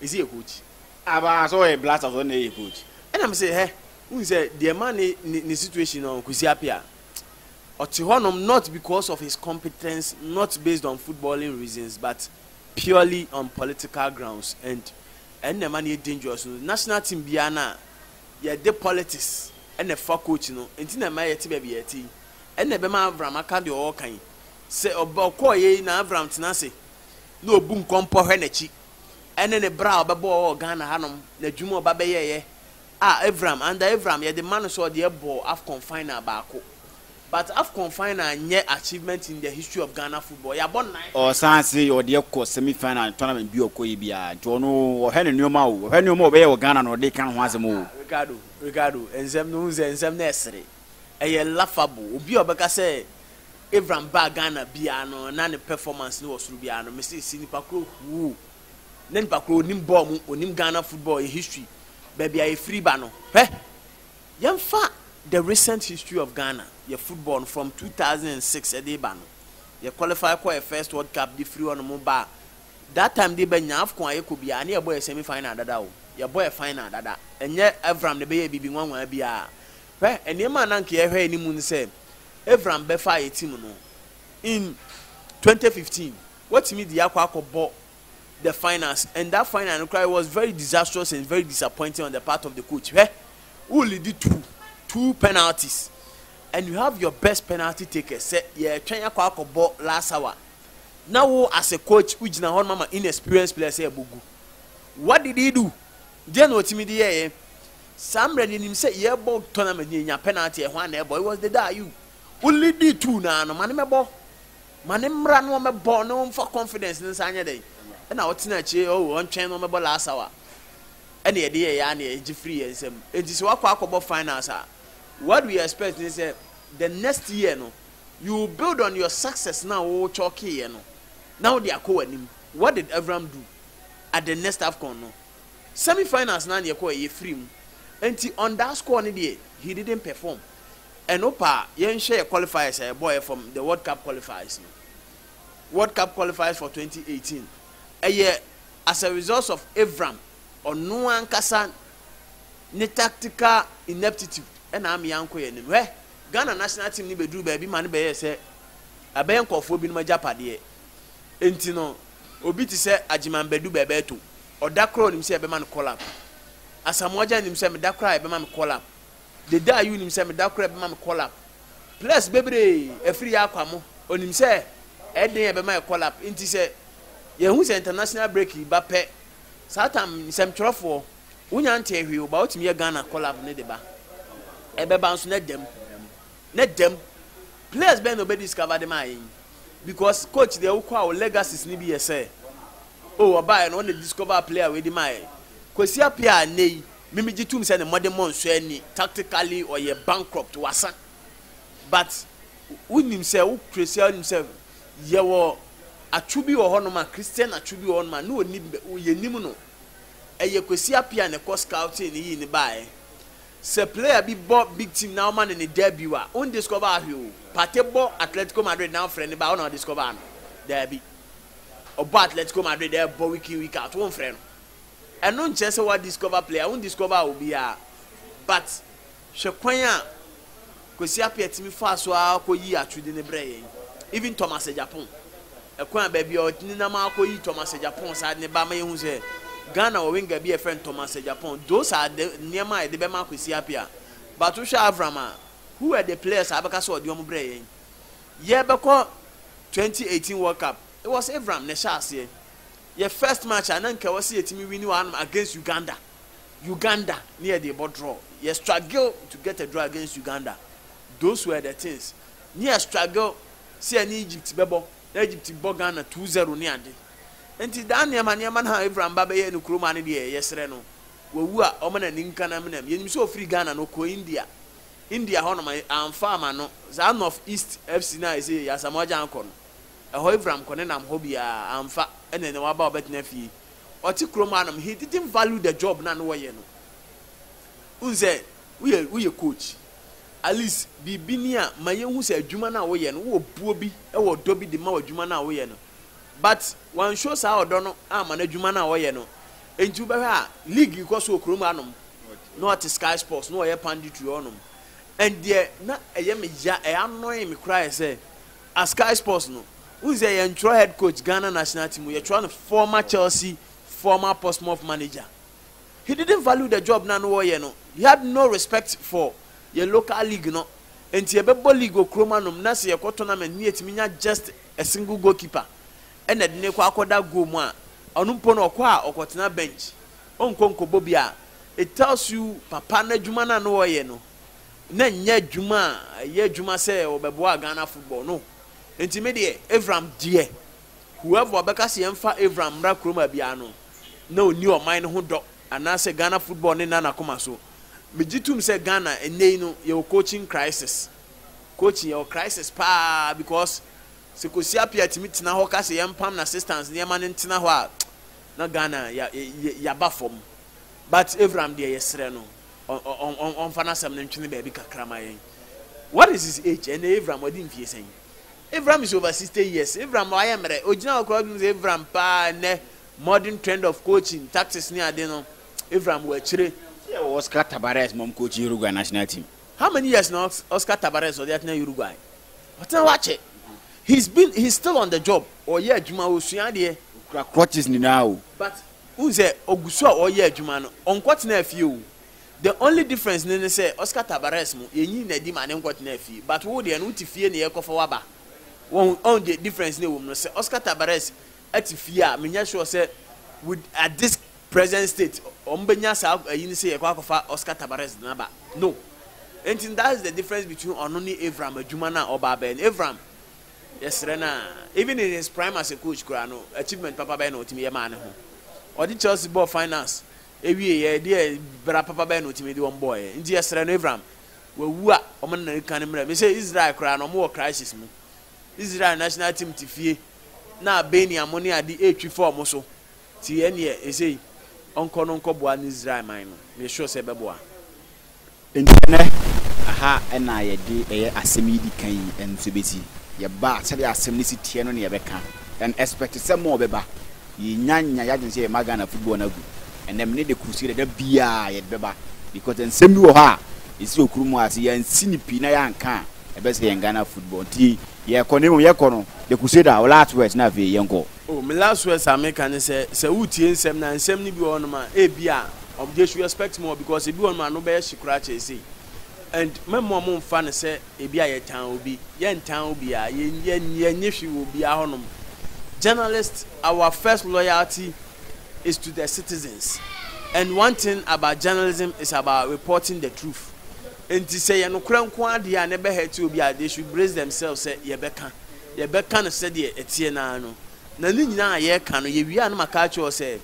ɛsi yɛ coach. Aba sɛ ɔyɛ blaster sɛ ɔna ɛyɛ coach ɛna me sɛ hɛ wohu sɛ deɛ ma ne ne situation no Kwesi Apia ɔte hɔ nom not because of his competence not based on footballing reasons but purely on political grounds and ɛna ɛma no yɛ dangerous no national team biara no a yɛde politics ɛna ɛfa coach no nti na ɛma yɛte baabi yɛte yi ɛna ɛbɛma Avram aka deɛ ɔɔka yi sɛ ɔba ɔkɔɔ yɛ yi na Avram tena ase na ɔbu nkɔmpɔ hwɛ n'akyi ɛne ne bra a ɔbɛbɔɔ wɔ Ghana hanom, n'adwuma a ɔba bɛyɛeɛ a Avram, under Avram yɛde ma no sɛ ɔde ɛbɔ Afcon final baako but Afcon final nyɛ achievement in the history of Ghana football, yɛabɔ nnan. Ɔsan se ɔde kɔ semi final tournament bi a ɔkɔeɛ biara nti ɔno wɔhwɛ ne nneɛma o, wɔhwɛ nneɛma a ɔbɛyɛ wɔ Ghana na ɔde ka ne ho asɛm o. Ah Ricardo, Ricardo, nsɛm no wohu sɛ nsɛm no ɛsere, ɛyɛ laughable, obi a ɔbɛka sɛ Abraham baa Ghana biaa no na ne performance no wɔ soro biaa no mese si nipa koro huu na nipa koro onim bɔɔl mu onim Ghana football yɛ history baabi a yɛfiri ba no hwɛ yɛmfa the recent history of Ghana yɛ football no from 2006 ɛde ba no yɛ qualify kɔ yɛ first world cup de firi hɔ no mo ba that time de ba nya afcon a yɛkɔ biaa ne yɛbɔ yɛ semi final dada o yɛbɔ yɛ final dada ɛnyɛ Abraham na ɛbɛyɛ bibi nwanwa biaa Hwɛ, nneɛma a na anka yɛhwɛ anim ne sɛ Avram bɛfa yɛn team no in twenty fifteen, watumi de yɛn akɔ akɔbɔ the finals and that final no koraa it was very disastrous and very disappointing on the part of the coach. Hwɛ, wo lead two two penalties and you have your best penalty takers sɛ yɛretwɛn akɔ akɔbɔ last hour na wo as a coach wogyina hɔ no ma inexperienced players sɛ ɛbɔ gu. What did he do? Deɛn na ɔtumi de yɛeɛ? Saa mmerɛ no yɛnim sɛ yɛbɔ tournament na yɛnya penalty ɛhɔ a na ɛbɔ it was the day Ayew wo leadi tuu no ara no ma no mɛbɔ ma no mmra na ɔmɛbɔ na ɔmfa confidence no nsa nyɛ dɛn ɛna ɔtena akyire oh ɔntwɛn na ɔmɛbɔ last hour ɛna yɛde yɛyɛ ara na yɛgye firi yɛn nsam enti sɛ wakɔ akɔbɔ finals a what we expect ne sɛ the next year no you build on your success na wo kyɔkeeɛ no na wode akɔ w'anim what did Avram do at the next AFCON no semi finals naa na yɛkɔɛ yɛfiri mu nti on that score no deɛ he didn't perform ɛno paa yɛnhwɛ yɛ qualifiers a yɛbɔɔɛ from the world cup qualifiers no world cup qualifiers for 2018 ɛyɛ as a result of Avram ɔno ankasa ne tactical ineptitude ɛna ame yɛankɔ yɛn anim hwɛ Ghana national team no bɛduru baabi ma no bɛyɛɛ sɛ ɛbɛyɛ nkurɔfoɔ binom agyapadeɛ nti no Obi te sɛ Agyeman Badu Bɛɛbɛɛto, ɔda koro a onim sɛ yɛbɛma no call up. Asamoah Agyan nim sɛ meda koro a yɛbɛma me call up. Dede Ayew nim sɛ meda koro a yɛbɛma me call up. Players bebree, Afiri Yakwamo, onim sɛ ɛyɛ den a yɛbɛma yɛ call up. Nti sɛ yɛhu sɛ international break reba pɛ, saa tam, nsɛmtwerɛfoɔ, wonya ntee hwee o, but wotumi yɛ Ghana call up no de ba. Ɛbɛba nso na ɛda mu. Ne dɛm. Players bɛn na ɔbɛ discover de maa yɛn? Because coach deɛ wokɔ a wo legacies no bi yɛ sɛ, oh ɔbaeɛ no ɔna discover player wei de maa yɛn. Kwesi Appiah a nnɛ yi me megye tom sɛ ne mmɔdemmɔ nsɔ ani, tactically ɔyɛ bankrupt, wasa. But wonim sɛ wo Kwesi a wonim sɛ yɛwɔ atwo bi wɔ hɔnom a, Christian atwo bi wɔ hɔnom a na ɔnim, yɛnim no. Ɛyɛ Kwesi Appiah na ɛkɔ scouting no yii no baeɛ. Sɛ player bi bɔ big team na wɔma no ne debut a, won discover ahwe oo. Partey bɔ Atletico Madrid na wɔfrɛ no ba a, wo na wo discover no? Daabi. Ɔbɔ Atletico Madrid ɛbɔ week in week out, wonfrɛ no. Ɛno nkyerɛ sɛ woa discover player, won discover obiara. But hwɛ kwan a. Kwesi Appiah tumi faa so ara kɔ yii atode no brɛɛ yɛn. Even Thomas Agyapong, ɛkwan a baabi a ɔnenam ara kɔ yii Thomas Agyapong saa de no baa ma yɛhu sɛ Ghana wɔ winger bi a yɛfrɛ no Thomas Agyapong. Those are the nneɛma a yɛde bɛma Kwesi Appiah. But wohwɛ Avram a, who were the players a wobɛka sɛ ɔde wɔn brɛɛ yɛn? Yɛrebɛkɔ 2018 World Cup, it was Avram na ɛhyɛɛ aseɛ. Yɛn first match a na anka ɛwɔ sɛ yɛtumi wini wɔ hanom against Uganda. Uganda ne yɛ de bɔ draw yɛ struggle to get a draw against Uganda those were the things ne yɛ struggle sɛ yɛne Egypt bɛbɔ na Egypt bɔ Ghana two zero ne ade nti daa nneɛma nneɛma no a Evra mba bɛyɛ no kurom a ne deɛ yɛsrɛ no wawu a ɔma n'ani nka na menam yɛnim sɛ ɔfiri Ghana no ɔkɔ India India hɔ nom amfa ama no saa North East FC no a ɛsɛ yɛyi Asamoah Gyan kɔ no ɛhɔ Evra kɔ ne nam hɔ biara amfa ɛna ɛna waba ɔbɛtena fie ɔte kurom hanom, he didn't value the job na no wɔyɛ no. Wohu sɛ woyɛ woyɛ coach, at least biribi ni a ma yɛhu sɛ adwuma no a woyɛ no wowɔ buo bi, wɔ ɔdɔ bi de ma wɔ adwuma no a woyɛ no. But wanshow saa ɔdɔ no amma no adwuma no a ɔyɛ no. Enti wobɛhwɛ a league rekɔ so wɔ kurom hanom na ɔte Sky Sports na ɔyɛ panditry hɔnom. And deɛ na ɛyɛ me ya, ɛyɛ annoying me koraa yɛ sɛ A Sky Sports no, wohu sɛ yɛntwerɛ head coach Ghana national team, yɛtwerɛ no former Chelsea, former Portsmouth manager. He didn't value the job na no ɔyɛ no, he had no respect for yɛn local league no, nti yɛbɛbɔ league wɔ kurom anom na sɛ yɛkɔ tournament ne yɛtumi nya just a single goalkeeper na yɛde no kɔ akɔda goal mu a, ɔno mpo no ɔkɔ a ɔkɔtena bench, ɔnkɔ nkɔbɔ biara, it tells you papa no adwuma no a no ɔyɛ no. na nyɛ adwuma a ɛyɛ adwuma sɛ wɔbɛboa Ghana football no nti me deɛ Avram deɛ whoever ɔbɛka sɛ yɛmfa Avram mmra kurom a biara no na ɔnni ɔman no ho dɔ anaasɛ Ghana football no nna n'akoma so megye tom sɛ Ghana ɛnnɛ yi no yɛwɔ coaching crisis coaching yɛwɔ crisis paa because sɛ Kwesi Appiah tumi tena hɔ ka sɛ yɛmpam no assistance nneɛma no ntena hɔ a na Ghana yɛaba fam but Avram deɛ yɛsrɛ no ɔmfa n'asɛm no ntwene baabi kakra ma yɛn. What is his age? Ɛnna Avram ɔde mfie sɛn? Avram is over sixty years. Avram wayɛ mmerɛ. Ogyina hɔ koraa ɔdwene sɛ Avram paa nnɛ modern trend of coaching, tactics ne ade no, Avram wɔ akyire. Sɛ yɛwɔ Oscar Tabarez ma ɔmcoachi Uruguay national team. How many years na Oscar Tabarez ɔde atena Uruguay? Ɔtena hɔ akyɛ. He's been he's still on the job. Ɔyɛ adwuma, ɔsua adeɛ. Ɔkura crutches nyinaa o. But wohu sɛ ɔgu so a ɔreyɛ adwuma no, ɔnkɔtenaa fie o, the only difference no ne sɛ Oscar Tabarez mo yɛnyi no adi ma no nkɔtenaa fie but wo deɛ no wote fie na yɛrekɔfa wo aba, wahu, ɔho deɛ difference no ɛwɔ mu no sɛ Oscar Tabarez te fie a menyɛ sure sɛ with at this present state wɔn bɛnya saa ayi no sɛ yɛkɔ akɔfa Oscar Tabarez no aba, no. Enti that's the difference between ɔno ne Avram adwuma no a ɔba abɛyɛ no, Avram Yɛsrɛ no a, even in his prime as a coach koraa no, achievement papa bɛn na ɔtumi yɛ maa ne ho? Ɔde Chelsea bɔɔ finals wieeɛ, ɛdeɛ bra papa bɛn na ɔtumi de wɔn bɔɔeɛ? Nti yɛsrɛ no, Avram, wawu a, wɔn ne no nka no mmra. Mesɛ Israel koraa no, wɔn wɔ crisis mu. Israel national team te fie na Baniamoneade retwi fa wɔn so. Nti ɛneɛ ɛsei ɔnkɔ no nkɔ boa ne Israel man no me sure sɛ ɛbɛboa. Nti ɛnɛ ɛha ɛna yɛde ɛyɛ asɛm yi di kan yi nso bɛsi. Yɛba a sɛdeɛ asɛm no si teɛ no na yɛbɛka. Yɛn expect sɛ more bɛba. Yɛnnya nnya yadwene sɛ yɛma Ghana football no agu. Ɛnɛ mene de crusade ɛda biaa yɛde bɛba because nsɛm bi wɔ hɔ a ɛsi okurom ase yɛansi no pii na yɛanka a ɛbɛsɛe yɛn Ghana football nti Yɛkɔ no emu, yɛkɔ no, the crusade a, wo last words na afei yɛnkɔ. Oh, me last words a meka ne sɛ, sɛ woretie nsɛm no a, nsɛm no bi wɔ hɔnom a, ebia wɔn, they should expect more because ebi wɔ hɔnom a ano bɛyɛ hye koraa kyɛn sei. And mɛmma wɔmmfa no sɛ ebia yɛtan obi, yɛntan obiara, yɛn, yɛn, yɛnnye hwee wɔ obiara hɔnom. Journalist, our first loyalty is to the citizens and one thing about journalism is about reporting the truth. Enti sɛ yɛ nokorɛ nko ara deɛ a na ɛbɛ hurt obi a they should brace themselves sɛ yɛbɛka, yɛbɛka no sɛdeɛ ɛteɛ no ara no. Na ne nyinaa a yɛreka no, yɛwie a na maka akyerɛ wo sɛ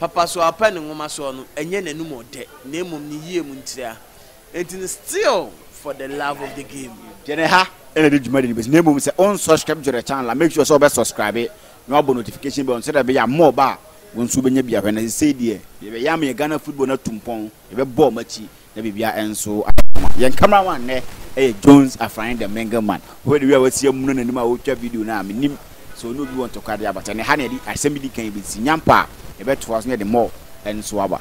Papasoapa ne Nwomasoɔ no ɛnyɛ n'anum ɔdɛ na mmom ne yie mu ntira. Enti no still for the love of the game. Deɛ na ɛha na ɛde dwumadi no bɛsi na mmom sɛ wonsubscribe to the channel a make sure sɛ wobɛ subscribe na wabɔ notification bell no sɛdeɛ ɛbɛyɛ a more ba a wo nso wobɛnya bi ahwɛ. Na sesei deɛ yɛbɛyam yɛn Ghana football no atu mpɔn, yɛbɛbɔ wɔn akyi na biribiara nso ayɛ kama. Yɛn cameraman nnɛ yɛ Jones Afrane the Mingle Man. Wohwɛ ne wie a wasi amuna n'anim a ɔretwa video no a, menim sɛ ɔne obi wɔ ntɔkwa deɛ abata. Ɛnna ha na yɛde asɛm bi di kan bɛsi nyampa a yɛbɛtoa so na yɛde mɔ nso aba.